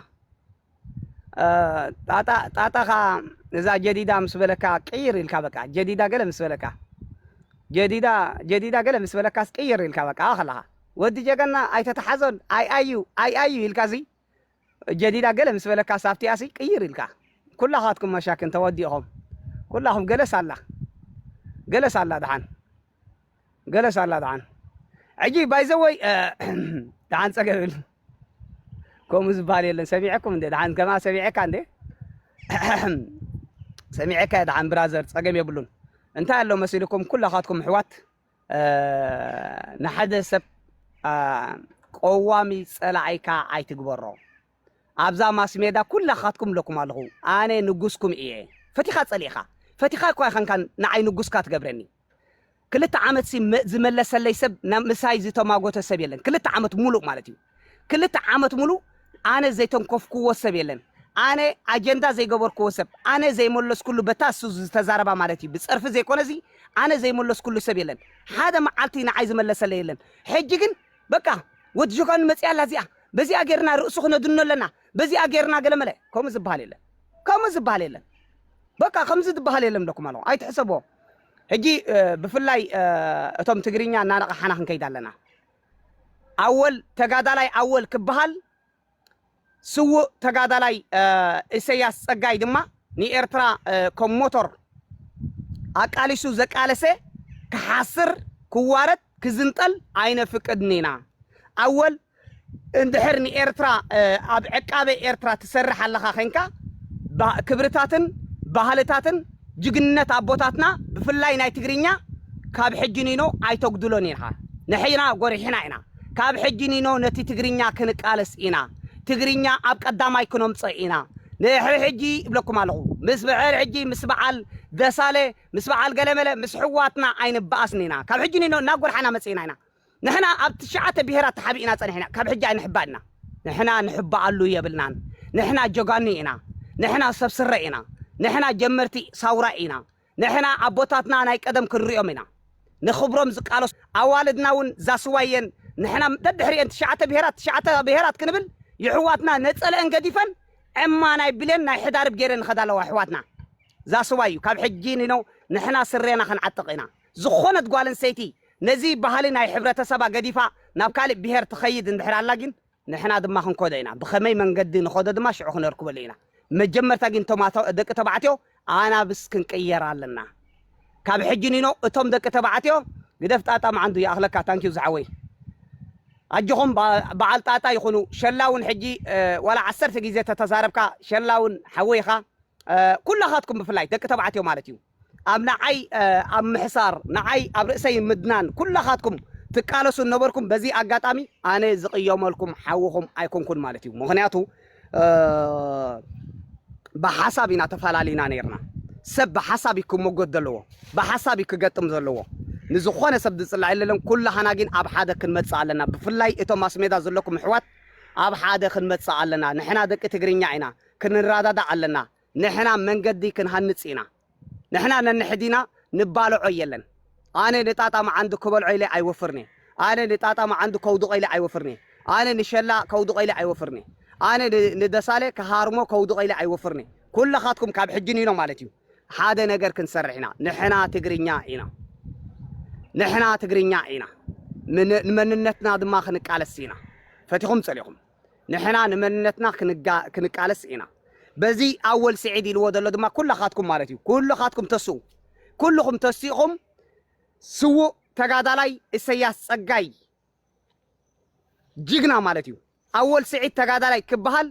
ጣጣኻ እዛ ጀዲዳ ምስ በለካ ቅይር ኢልካ በቃ ጀዲዳ ገለ ምስ በለካ ጀዲዳ ጀዲዳ ገለ ምስ በለካስ ቅይር ኢልካ በቃ ከለኻ ወዲ ጀገና ኣይተተሓዞን ኣይ ኣዩ ኣይ ኣዩ ኢልካ እዙይ ጀዲዳ ገለ ምስ በለካስ ኣብቲኣሲ ቅይር ኢልካ ኩላኻትኩም መሻኪን ተወዲእኹም ኩላኹም ገለስ ኣላ ገለስ ኣላ ደሓን ገለስ ኣላ ደሓን ሕጂ ባይዘወይ ደሓን ጸገብል ከምኡ ዝበሃል የለን ሰሚዐኩም እንደ ደሓን ከማ ሰሚዐካ እንደ ሰሚዐካ ደሓን ብራዘር ጸገም የብሉን እንታይ ኣሎ መሲልኩም ኩላኻትኩም ኣሕዋት ንሓደ ሰብ ቆዋሚ ጸላኢካ ኣይትግበሮ ኣብዛ ማስሜዳ ኩላኻትኩም ኣለኩም ኣለኹ ኣነ ንጉስኩም እየ ፈቲኻ ጸሊእኻ ፈቲኻ እኳ ይኸንካን ንዓይ ንጉስካ ትገብረኒ ክልተ ዓመት ዝመለሰለይ ሰብ ምሳይ ዝተማጎተ ሰብ የለን ክልተ ዓመት ሙሉእ ማለት እዩ ክልተ ዓመት ሙሉእ ኣነ ዘይተንኮፍኩዎ ሰብ የለን ኣነ ኣጀንዳ ዘይገበርኩዎ ሰብ ኣነ ዘይመለስኩሉ በታ እሱ ዝተዛረባ ማለት እዩ ብጸርፊ ዘይኮነ እዚ ኣነ ዘይመለስኩሉ ሰብ የለን ሓደ መዓልቲ ንዓይ ዝመለሰለ የለን ሕጂ ግን በቃ ወዲ ጆጋኑ መጺኣ ኣላ እዚኣ በዚኣ ጌርና ርእሱ ክነድኖ ኣለና በዚኣ ጌርና ገለመለ ከምኡ ዝበሃል የለን ከምኡ ዝበሃል የለን በቃ ከምዚ ዝበሃል የለን ብለኩም ኣለኹ ኣይትሕሰብዎ ሕጂ እ፣ ብፍላይ እ፣ እቶም ትግርኛ እናነቓሓና ክንከይድ ኣለና ኣወል ተጋዳላይ ኣወል ክበሃል፣ ስዉእ ተጋዳላይ እሰያስ ጸጋይ ድማ ንኤርትራ ከም ሞቶር ኣቃሊሱ ዘቃለሰ ክሓስር ክዋረድ ክዝንጠል ኣይነፍቅድን ኢና። ኣወል እንድሕር ንኤርትራ ኣብ ዕቃበ ኤርትራ ትሰርሕ ኣለኻ ዄንካ ክብርታትን ባህልታትን ጅግንነት ኣቦታትና ብፍላይ ናይ ትግርኛ ካብ ሕጂ ኒኖ ኣይተጉድሎን ኢኻ ንሕና ጎሪሕና ኢና ካብ ሕጂ ኒኖ ነቲ ትግርኛ ክንቃለስ ኢና ትግርኛ ኣብ ቀዳማይ ክኖምጾ ኢና ንድሕሪ ሕጂ እብለኩም ኣለኹ ምስ ብሕር ሕጂ ምስ በዓል ደሳለ ምስ በዓል ገለመለ ምስ ሕዋትና ኣይንበኣስን ኢና ካብ ሕጂ ኒኖ እናጎርሓና መጺእና ኢና ንሕና ኣብ ትሽዓተ ብሄራት ተሓቢእና ጸኒሕና ካብ ሕጂ ኣይንሕባእና። ንሕና ንሕባኣሉ የብልናን ንሕና ጀጋኑ ኢና ንሕና ሰብ ስረ ኢና ንሕና ጀመርቲ ሳውራ ኢና ንሕና ኣቦታትና ናይ ቀደም ክንሪኦም ኢና ንክብሮም ዝቃለሱ ኣዋልድና ውን ዛስዋየን ንሕና ደድሕሪኤን ትሽዓተ ብሄራት ትሽዓተ ብሄራት ክንብል ይሕዋትና ነጸለኤን ገዲፈን ዕማ ናይ ብሌን ናይ ሕዳርብ ጌረን ይኸዳ ኣለዋ ይሕዋትና ዛስዋዩ ካብ ሕጂ ኒኖ ንሕና ስሬና ክንዓጥቕ ኢና ዝኾነት ጓል ኣንሰይቲ ነዚ ባህሊ ናይ ሕብረተሰባ ገዲፋ ናብ ካልእ ብሄር ትኸይድ እንድሕር ኣላ ጊን ንሕና ድማ ክንኮዶ ኢና ብኸመይ መንገዲ ንኸዶ ድማ ሽዑ ክነርክበሉ ኢና መጀመርታ ጊን እቶም ደቂ ተባዕትዮ ኣናብስ ክንቅየር ኣለና ካብ ሕጂ ኒኖ እቶም ደቂ ተባዕትዮ ግደፍ ጣጣ ማዓንዱ ይኣኽለካ thank you ዝሓወይ ኣጆኹም ባዓል ጣጣ ይኹኑ ሸላ ውን ሕጂ ዋላ ዓሰርተ ጊዜ ተተዛረብካ ሸላ ውን ሓወይ ኢኻ ኩላኻትኩም ብፍላይ ደቂ ተባዕትዮ ማለት እዩ ኣብ ንዓይ ኣብ ምሕሳር ንዓይ ኣብ ርእሰይ ምድናን ኩላኻትኩም ትቃለሱ ነበርኩም በዚ ኣጋጣሚ ኣነ ዝቕየመልኩም ሓውኹም ኣይኮንኩን ማለት እዩ ምኽንያቱ ብሓሳብ ኢና ተፈላሊና ነርና ሰብ ብሓሳብ እዩ ክመጎት ዘለዎ ብሓሳብ እዩ ክገጥም ዘለዎ ንዝኾነ ሰብ ዝፅላዕ የለለን ኩላህና ግን ኣብ ሓደ ክንመፅእ ኣለና ብፍላይ እቶም ማስሜዳ ዘለኩም ኣሕዋት ኣብ ሓደ ክንመፅእ ኣለና ንሕና ደቂ ትግርኛ ኢና ክንረዳዳእ ኣለና ንሕና መንገዲ ክንሃንጽ ኢና ንሕና ነንሕዲና ንባልዖ የለን ኣነ ንጣጣ መዓንዱ ክበልዖ ኢለ ኣይወፍርን እየ ኣነ ንጣጣ መዓንዱ ከውድቖ ኢለ ኣይወፍርን እየ ኣነ ንሸላ ከውድቖ ኢለ ኣይወፍርን እየ ኣነ ንደሳለ ክሃርሞ ከውድቖ ኢለ ኣይወፍርን እየ ኩላኻትኩም ካብ ሕጂ ንኢሎ ማለት እዩ ሓደ ነገር ክንሰርሕ ኢና ንሕና ትግርኛ ኢና ንሕና ትግርኛ ኢና ንመንነትና ድማ ክንቃለስ ኢና ፈቲኹም ጸሊኹም ንሕና ንመንነትና ክንቃለስ ኢና በዚ ኣወል ስዒድ ኢልዎ ዘሎ ድማ ኩላኻትኩም ማለት እዩ ኩሉኻትኩም ተስኡ ኩሉኹም ተሲእኹም ስዉእ ተጋዳላይ እሰያስ ጸጋይ ጅግና ማለት እዩ ኣወል ስዒድ ተጋዳላይ ክበሃል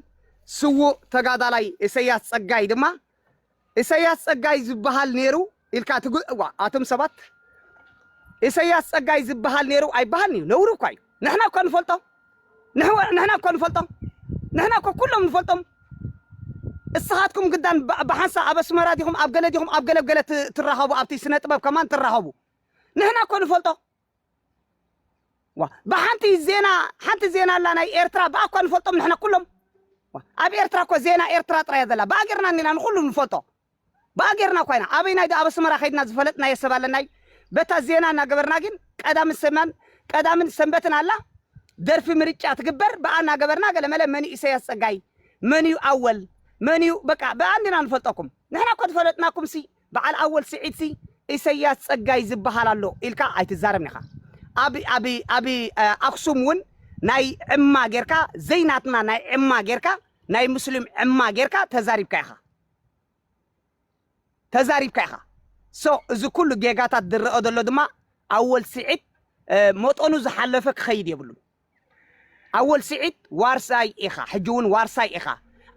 ስዉእ ተጋዳላይ እሰያስ ጸጋይ ድማ ኢሰያስ ጸጋይ ዝብሃል ኔሩ ኢልካ ትግ እዋ ኣቶም ሰባት ኢሰያስ ጸጋይ ዝብሃል ኔሩ ኣይብሃልን እዩ ነውሪ እኳ እዩ ንሕና እኳ ንፈልጦ ንሕወ ንሕና እኳ ንፈልጦ ንሕና እኳ ኩሎም ንፈልጦም እስኻትኩም ግዳን ብ- ብሓንሳእ ኣብ ኣስመራ ዲኹም ኣብ ገለ ዲኹም ኣብ ገለ ገለ ት- ትራኸቡ ኣብቲ ስነ ጥበብ ከማን ትራኸቡ ንሕና እኮ ንፈልጦ ዋ ብሓንቲ ዜና ሓንቲ ዜና ኣላ ናይ ኤርትራ ብኣ እኳ ንፈልጦም ንሕና ኩሎም ዋ ኣብ ኤርትራ እኮ ዜና ኤርትራ ጥራይ እያ ዘላ ብኣ ጌርና እኒና ንኹሉ ንፈልጦ ብኣ ጌርና እኳ ኢና ኣበይናይ ዶ ኣብ ኣስመራ ከይድና ዝፈለጥናዮ ሰብ ኣለና እዩ በታ ዜና እናገበርና ግን ቀዳምን ሰማን ቀዳምን ሰንበትን ኣላ ደርፊ ምርጫ ትግበር ብኣ እናገበርና ገለመለ መን እዩ ኢሰያስ ጸጋይ መን እዩ ኣወል መን እዩ በቃ ብኣ እንዲና ንፈልጠኩም ንሕና እኮ ዝፈለጥናኩም ሲ በዓል ኣወል ስዒድ ሲ ኢሰያስ ጸጋይ ዝብሃል ኣሎ ኢልካ ኣይትዛረብን ኢኻ ኣብ ኣብ ኣብ ኣክሱም ውን ናይ ዕማ ጌርካ ዘይ ናትና ናይ ዕማ ጌርካ ናይ ሙስሊም ዕማ ጌርካ ተዛሪብካ ኢኻ ተዛሪብካ ኢኻ ሶ እዚ ኩሉ ጌጋታት ዝረኦ ዘሎ ድማ ኣወል ስዒድ መጠኑ ዝሓለፈ ክኸይድ የብሉን። ኣወል ሲዒድ ዋርሳይ ኢኻ ሕጂ ውን ዋርሳይ ኢኻ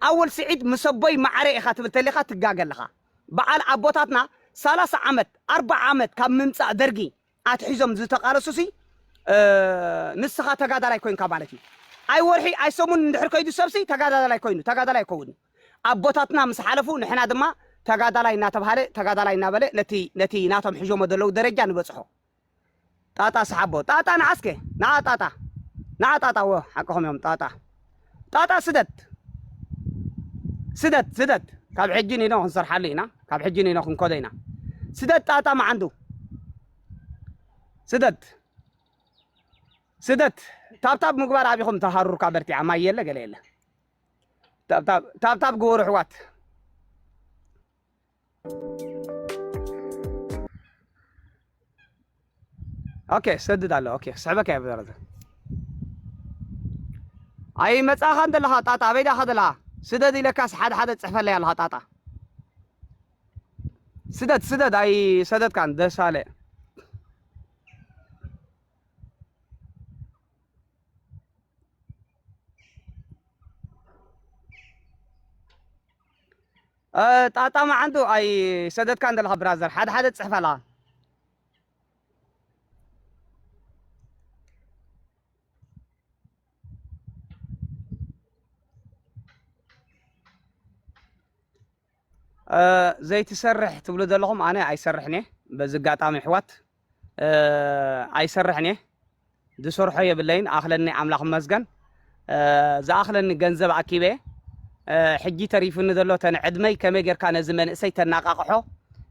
ኣወል ሲዒድ ምስ ኣቦይ ማዓረይ ኢኻ ትብል ተሊኻ ትጋገ ኣለኻ ባዓል ኣቦታትና ሰላሳ ዓመት ኣርባዓ ዓመት ካብ ምምጻእ ደርጊ ኣትሒዞም ዝተቃለሱሲ ንስኻ ተጋዳላይ ኮንካ ማለት እዩ ኣይ ወርሒ ኣይ ሰሙን እንድሕር ከይዱ ሰብሲ ተጋዳላይ ኮይኑ ተጋዳላይ ኣይከውን እዩ ኣቦታትና ምስ ሓለፉ ንሕና ድማ ተጋዳላይ እናተብሃለ ተጋዳላይ እናበለ ነቲ ነቲ ናቶም ሕዦሞ ዘለዉ ደረጃ ንበጽሖ ጣጣ ስሓቦ ጣጣ ንዓስከ ንዓ ጣጣ ንዓ ጣጣ እወ ሓቅኹም እዮም ጣጣ ጣጣ ስደት ስደት ስደት ካብ ሕጂ ኒኖ ክንሰርሓሉ ኢና ካብ ሕጂ ኒኖ ክንኮዶ ኢና ስደት ጣጣ መዓንዱ ስደት ስደት ታብታብ ምግባር ኣቢኹም ተሃሩርካ በርቲዓ ማይ የለ ገለ የለ ታብታብ ግበሩ ኣሕዋት ኦኬ ሰድድ ኣሎ ኦኬ ክስዕበካ እየ ብዘረዘ ኣይ መጻኻ እንተለኻ ጣጣ ኣበይ ዳኻ ዘለኻ ስደድ ኢለካስ ሓደ ሓደ ጽሕፈለይ ኣለኻ ጣጣ ስደድ ስደድ ኣይ ሰደድካን ደሳለ ጣጣ ማዓንጡ ኣይ ሰደትካን ዘለካ ብራዘር ሓደ ሓደ ትጽሕፍ ኣለካ። ዘይትሰርሕ ትብሉ ዘለኹም ኣነ ኣይሰርሕን እየ በዚ ኣጋጣሚ ኣሕዋት ኣይሰርሕን እየ ዝሰርሖ የብለይን ኣኽለኒ ኣምላኽ መስገን ዝኣኽለኒ ገንዘብ ኣኪበ ሕጂ ተሪፉኒ ዘሎ ተን ዕድመይ ከመይ ጌርካ ነዚ መንእሰይ ተናቃቕሖ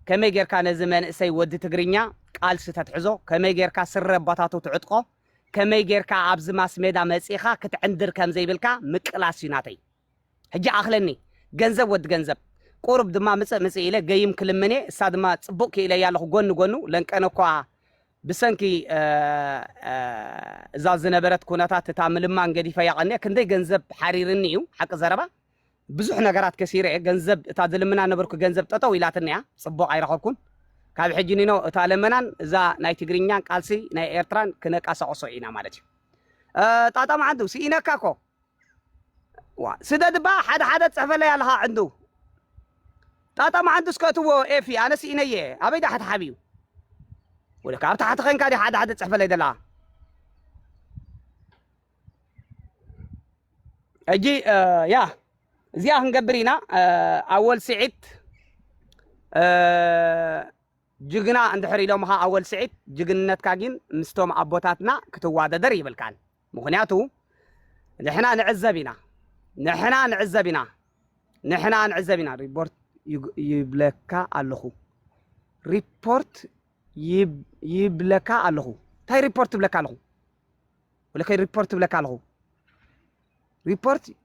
ከመይ ጌርካ ነዚ መንእሰይ ወዲ ትግርኛ ቃልሲ ተትሕዞ ከመይ ጌርካ ስረ ኣባታቱ ትዕጥቆ ከመይ ጌርካ ኣብዚ ማስሜዳ መጺኻ ክትዕንድር ከም ዘይብልካ ምቅላስ እዩ ናተይ ሕጂ ኣኽለኒ ገንዘብ ወዲ ገንዘብ። ቁሩብ ድማ ምጽእ ምጽእ ኢለ ገይም ክልምን'የ፣ እሳ ድማ ጽቡቕ ክኢለያ ኣለኹ ጎኒ ጎኑ ለንቀነ'ኳ ብሰንኪ እዛ ዝነበረት ኩነታት እታ ምልማን ገዲፈያ ቀንየ ክንደይ ገንዘብ ሓሪርኒ እዩ ሓቂ ዘረባ ብዙሕ ነገራት ከሲረ እየ ገንዘብ እታ ዝልምና ነበርኩ ገንዘብ ጠጠው ኢላትኒ እያ ጽቡቕ ኣይረኸብኩን ካብ ሕጂ ኒኖ እታ ለመናን እዛ ናይ ትግርኛን ቃልሲ ናይ ኤርትራን ክነቃሳቕሶ ኢና ማለት እዩ ጣጣ መዓንቱ ስኢነካ እኮ ዋእ ስደድ እባ ሓደ ሓደ ትጽሕፈለይ ኣለኻ ዕንዱ ጣጣ መዓንዱስ ከእትዎ ኤፊ ኣነ ስኢነየ ኣበይ ድኣ ተሓቢኡ ወደ ካብ ታሕቲ ኸንካ ዲ ሓደ ሓደ ትጽሕፈለይ ደላ ሕጂ ያ እዚኣ ክንገብር ኢና ኣወል ስዒድ ጅግና እንድሕር ኢሎምኻ ኣወል ስዒድ ጅግንነትካ ጊን ምስቶም ኣቦታትና ክትዋደደር ይብልካን ምኽንያቱ ንሕና ንዕዘብ ኢና ንሕና ንዕዘብ ኢና ንሕና ንዕዘብ ኢና ሪፖርት ይብለካ ኣለኹ ሪፖርት ይብለካ ኣለኹ እንታይ ሪፖርት ይብለካ ኣለኹ ወለከይ ሪፖርት ይብለካ ኣለኹ ሪፖርት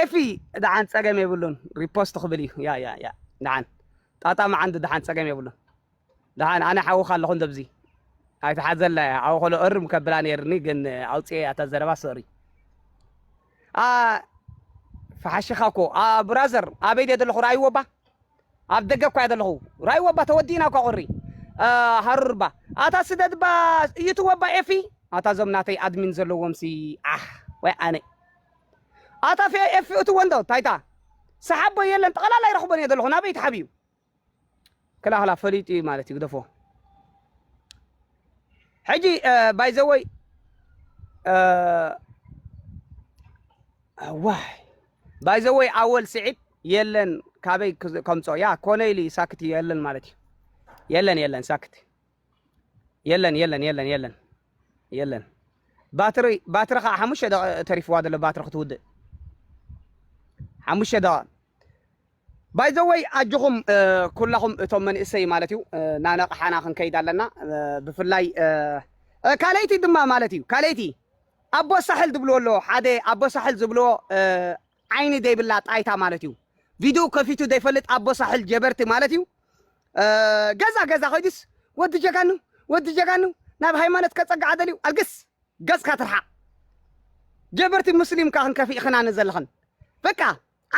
ኤፊ ዳሓን ጸገም የብሉን ሪፖስት ክብል እዩ ያ ያ ያ ዳሓን ጣጣ ማዓን ዶ ዳሓን ጸገም የብሉን ዳሓን ኣነ ሓውካ ኣለኹ እንዶ ኣብዚ ኣይትሓዘላ እያ ሓው ከሎ እርም ከብላ ነይርኒ ግን ኣውጽኤ እያ እታ ዘረባ ሶሪ ፈሓሽኻ እኮ ብራዘር ኣበይ ድየ ዘለኹ ራይወባ ኣብ ደገ እኳ እየ ዘለኹ ራይወባ ተወዲእና እኳ ቁሪ ሃሩርባ ኣታ ስደድባ እዩትወባ ኤፊ ኣታ ዞም ናተይ ኣድሚን ዘለዎም ሲ ዓሕ ወይ ኣነ ኣታ ፌ ኤፊ እትዎ እንዶ ታይታ ስሓቦ የለን ጠቕላላ ይረኽቦን እየ ዘለኹ ናበይ ተሓብዩ ክላህላ ፈሊጡ እዩ ማለት እዩ ግደፎ ሕጂ ባይዘወይ ዋይ ባይዘወይ ኣወል ስዒድ የለን ካበይ ከምፆ ያ ኮነ ኢሉ ሳክት እዩ የለን ማለት እዩ የለን የለን ሳክት የለን የለን የለን የለን የለን ባትሪ ባትሪ ከዓ ሓሙሽተ ደቂ ተሪፍዋ ዘሎ ባትሪ ክትውድእ ሓሙሽተ ደቂ ባይዘወይ ኣጆኹም ኩላኹም እቶም መንእሰይ ማለት እዩ ናነቕሓና ክንከይድ ኣለና ብፍላይ ካልኣይቲ ድማ ማለት እዩ ካልኣይቲ ኣቦ ሳሕል ዝብልዎ ኣለዎ ሓደ ኣቦ ሳሕል ዝብልዎ ዓይኒ ዘይብላ ጣይታ ማለት እዩ ቪድኡ ከፊቱ ዘይፈልጥ ኣቦ ሳሕል ጀበርቲ ማለት እዩ ገዛ ገዛ ኮይዱስ ወዲ ጀጋኑ ወዲ ጀጋኑ ናብ ሃይማኖት ከጸግዓ ደልዩ ኣልግስ ገጽካ ትርሓቅ ጀበርቲ ሙስሊም እካ ክንከፊእክና ንዘለኽን በቃ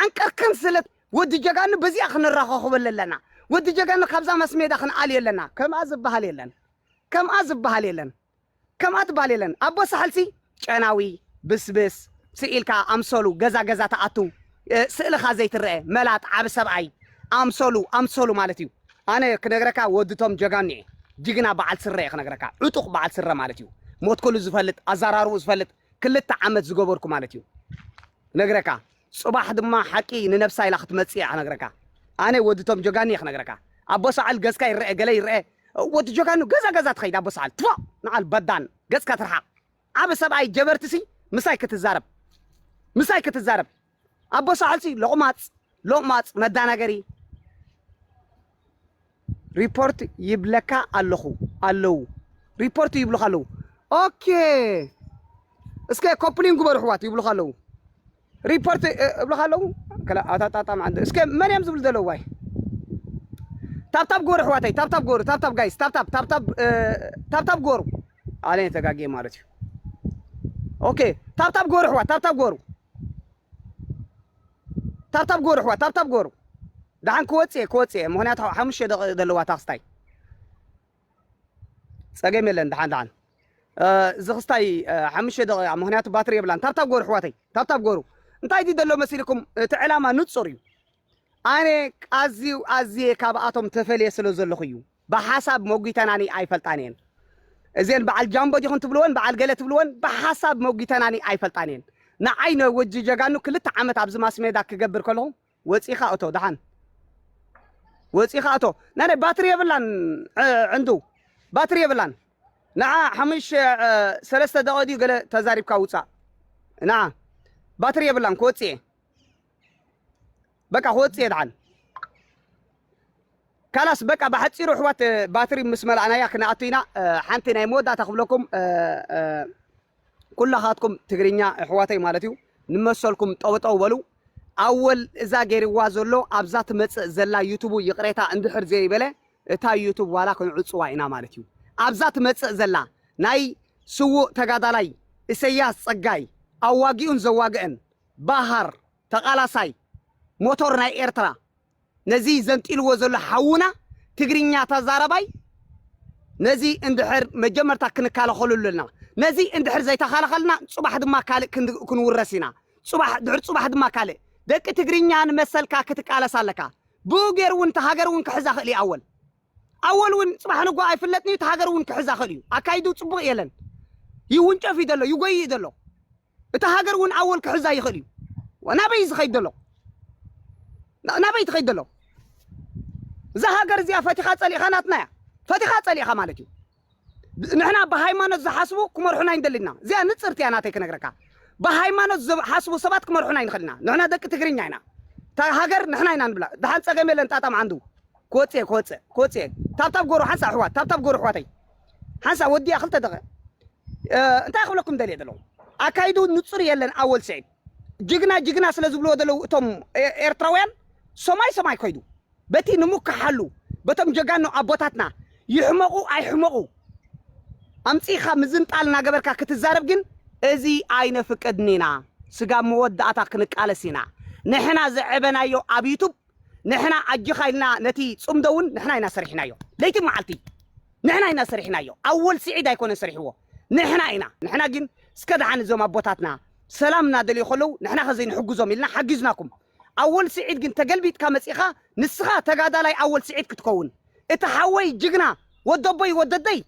ዓንቀርክን ስለ ወዲ ጀጋኑ በዚኣ ክንራኸኽበለ ኣለና ወዲ ጀጋኑ ካብዛ መስሜዳ ክንኣልዮ ኣለና ከምኣ ዝበሃል የለን ከምኣ ዝበሃል የለን ከምኣ ትባል የለን ኣቦ ሳሕል ሲ ጨናዊ ብስብስ ስቅ ኢልካ ኣምሰሉ ገዛ ገዛ ትኣቱ ስእልኻ ዘይትረኤ መላጥ ዓቢ ሰብኣይ ኣምሰሉ ኣምሰሉ ማለት እዩ ኣነ ክነግረካ ወዲ ቶም ጀጋኑ እየ ጅግና በዓል ስረ እየ ክነግረካ ዕጡቅ በዓል ስረ ማለት እዩ ሞት ኩሉ ዝፈልጥ ኣዛራርቡ ዝፈልጥ ክልተ ዓመት ዝገበርኩ ማለት እዩ ክነግረካ ጽባሕ ድማ ሓቂ ንነብሳ ኢላ ክትመጽእ እያ ክነግረካ ኣነ ወዲ ቶም ጀጋኑ እየ ክነግረካ ኣቦ ሰዓል ገጽካ ይረአ ገለ ይረአ ወዲ ጀጋኑ ገዛ ገዛ ትኸይድ ኣቦ ሰዓል ትፎእ ንዓል በዳን ገጽካ ትርሓቕ ዓቢ ሰብኣይ ጀበርትሲ ምሳይ ክትዛረብ ምሳይ ክትዛረብ ኣቦ ሳሕልሲ ሎቅማጽ ሎቅማጽ መዳናገሪ። ሪፖርት ይብለካ ኣለኹ ኣለው ሪፖርት ይብሉኻ ኣለው ኦኬ እስከ ኮፕሊን ግበሩ ኣሕዋት ይብሉኻ ኣለው ሪፖርት እብሉኻ ኣለው ከላ ኣታጣጣም ዓንደ እስከ መን እዮም ዝብሉ ዘለው ዋይ ታብታብ ግበሩ ኣሕዋተይ ታብታብ ግበሩ ታብታብ ጋይስ ታብታብ ታብታብ ታብታብ ግበሩ ኣነ ተጋጌ ማለት እዩ ኦኬ ታብታብ ግበሩ ኣሕዋት ታብታብ ግበሩ ታብታብ ግበሩ ኣሕዋት ታብታብ ግበሩ ደሓን ክወጽእ እየ ክወጽእ እየ ምክንያቱ ሓሙሽተ ደቂቅ ዘለዋ እታ ክስታይ ጸገም የለን ደሓን ደሓን እዚ ክስታይ ሓሙሽተ ደቂቃ ምክንያቱ ባትሪ የብላን ታብታብ ግበሩ ኣሕዋተይ ታብታብ ግበሩ እንታይ ድዩ ዘሎ መሲልኩም እቲ ዕላማ ንጹር እዩ ኣነ ኣዝዩ ኣዝየ ካብኣቶም ተፈልየ ስለ ዘለኹ እዩ ብሓሳብ ሞጒተናኒ ኣይፈልጣን እየን እዘን በዓል ጃምቦ ዲኹም ትብልወን በዓል ገለ ትብልወን ብሓሳብ ሞጒተናኒ ኣይፈልጣን እየን ንዓይ ን ወጂ ጀጋኑ ክልተ ዓመት ኣብዚ ማስሜዳ ክገብር ከለኹ ወጺኻ እቶ ደሓን ወጺኻ እቶ ናይ ባትሪ የብላን ዕንዱ ባትሪ የብላን ንዓ ሓሙሽ ሰለስተ ደቂቅ ድዩ ገለ ተዛሪብካ ውፃእ ንዓ ባትሪ የብላን ክወፅእ እየ በቃ ክወፅእ እየ ድሓን ካላስ በቃ ብሓፂሩ ኣሕዋት ባትሪ ምስ መላእናያ ክነኣቱ ኢና ሓንቲ ናይ መወዳእታ ክብለኩም ኩላኻትኩም ትግርኛ ኣሕዋተይ ማለት እዩ ንመሰልኩም ጠውጠው በሉ ኣወል እዛ ገይርዋ ዘሎ ኣብዛ ትመፅእ ዘላ ዩቱቡ ይቕሬታ እንድሕር ዘይበለ እታ ዩቱብ ዋላ ክንዕፅዋ ኢና ማለት እዩ ኣብዛ ትመፅእ ዘላ ናይ ስውእ ተጋዳላይ እሰያስ ፀጋይ ኣዋጊኡን ዘዋግእን ባሃር ተቃላሳይ ሞቶር ናይ ኤርትራ ነዚ ዘንጢልዎ ዘሎ ሓውና ትግርኛ ተዛራባይ ነዚ እንድሕር መጀመርታ ክንካለኸሉ ኣለና ነዚ እንድሕር ዘይተኻለኸልና ጽባሕ ድማ ካልእ ክንውረስ ኢና ጽባሕ ድሕር ጽባሕ ድማ ካልእ ደቂ ትግርኛ ንመሰልካ ክትቃለስ ኣለካ ብኡ ገይሩ እውን እቲ ሃገር እውን ክሕዛ ክእል እዩ ኣወል ኣወል እውን ጽባሕ ንጎ ኣይፍለጥን እዩ እቲ ሃገር እውን ክሕዛ ክእል እዩ ኣካይዱ ጽቡቅ የለን ይውንጨፍ እዩ ዘሎ ይጎይእ ዘሎ እታ ሃገር ውን ኣወል ክሕዛ ይኽእል እዩ ናበይ እዩ ዝኸይድ ዘሎ ናበይ ትኸይድ ዘሎ እዛ ሃገር እዚኣ ፈቲኻ ጸሊእኻ ናትና እያ ፈቲኻ ጸሊእኻ ማለት እዩ ንሕና ብሃይማኖት ዝሓስቡ ክመርሑና ይንደልና እዚኣ ንፅርቲ እያ ናተይ ክነግረካ ብሃይማኖት ዝሓስቡ ሰባት ክመርሑና ይንኽእልና ንሕና ደቂ ትግርኛ ኢና እታ ሃገር ንሕና ኢና ንብላ ድሓን ፀገም የለን ጣጣም ዓንዱ ክወፅእ ክወፅእ ክወፅእ ታብታብ ጎሩ ሓንሳ ኣሕዋት ታብታብ ጎሩ ኣሕዋተይ ሓንሳእ ወዲኣ ክልተ ደቒቅ እንታይ ክብለኩም ደልየ ዘለኹ ኣካይድኡ ንጹር የለን ኣወል ስዒድ ጅግና ጅግና ስለ ዝብልዎ ዘለዉ እቶም ኤርትራውያን ሰማይ ሰማይ ኮይዱ በቲ ንምካሓሉ በቶም ጀጋኑ ኣቦታትና ይሕመቑ ኣይሕመቑ ኣምጺኻ ምዝንጣል እናገበርካ ክትዛረብ ግን እዚ ኣይነፍቅድን ኢና ስጋብ መወዳእታ ክንቃለስ ኢና ንሕና ዘዕበናዮ ኣብ ዩቱብ ንሕና ኣጆኻ ኢልና ነቲ ጽምዶ ውን ንሕና ኢና ሰሪሕናዮ ለይቲ መዓልቲ ንሕና ኢና ሰሪሕናዮ ኣወል ሲዒድ ኣይኮነን ሰሪሕዎ ንሕና ኢና ንሕና ግን እስከ ደሓን እዞም ኣቦታትና ሰላም እናደልዩ ከለዉ ንሕና ከ ዘይንሕግዞም ኢልና ሓጊዝናኩም ኣወል ሲዒድ ግን ተገልቢጥካ መጺእኻ ንስኻ ተጋዳላይ ኣወል ሲዒድ ክትከውን እቲ ሓወይ ጅግና ወደቦይ ወደደይ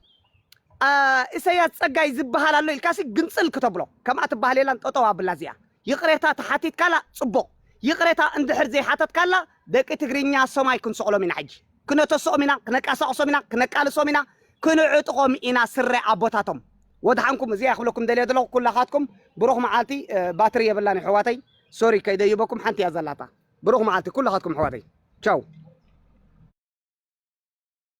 እሰያስ ጸጋይ ዝበሃል ኣሎ ኢልካሲ ግንጽል ክተብሎ ከምኣ ትበሃል የላን ጠጠው ኣብላ እዚኣ ይቅሬታ ተሓቲትካላ ጽቡቅ ይቅሬታ እንድሕር ዘይሓተትካላ ደቂ ትግርኛ ሰማይ ክንሰቅሎም ኢና ሕጂ ክነተስኦም ኢና ክነቃሳቅሶም ኢና ክነቃልሶም ኢና ክንዕጥቆም ኢና ስረ ኣቦታቶም ወድሓንኩም እዚኣ ክብለኩም ደልየ ዘለኹ ኩላኻትኩም ብሩኽ መዓልቲ ባትሪ የብላን የሕዋተይ ሶሪ ከይደይበኩም ሓንቲ እያ ዘላታ ብሩኽ መዓልቲ ኩላኻትኩም ኣሕዋተይ ቻው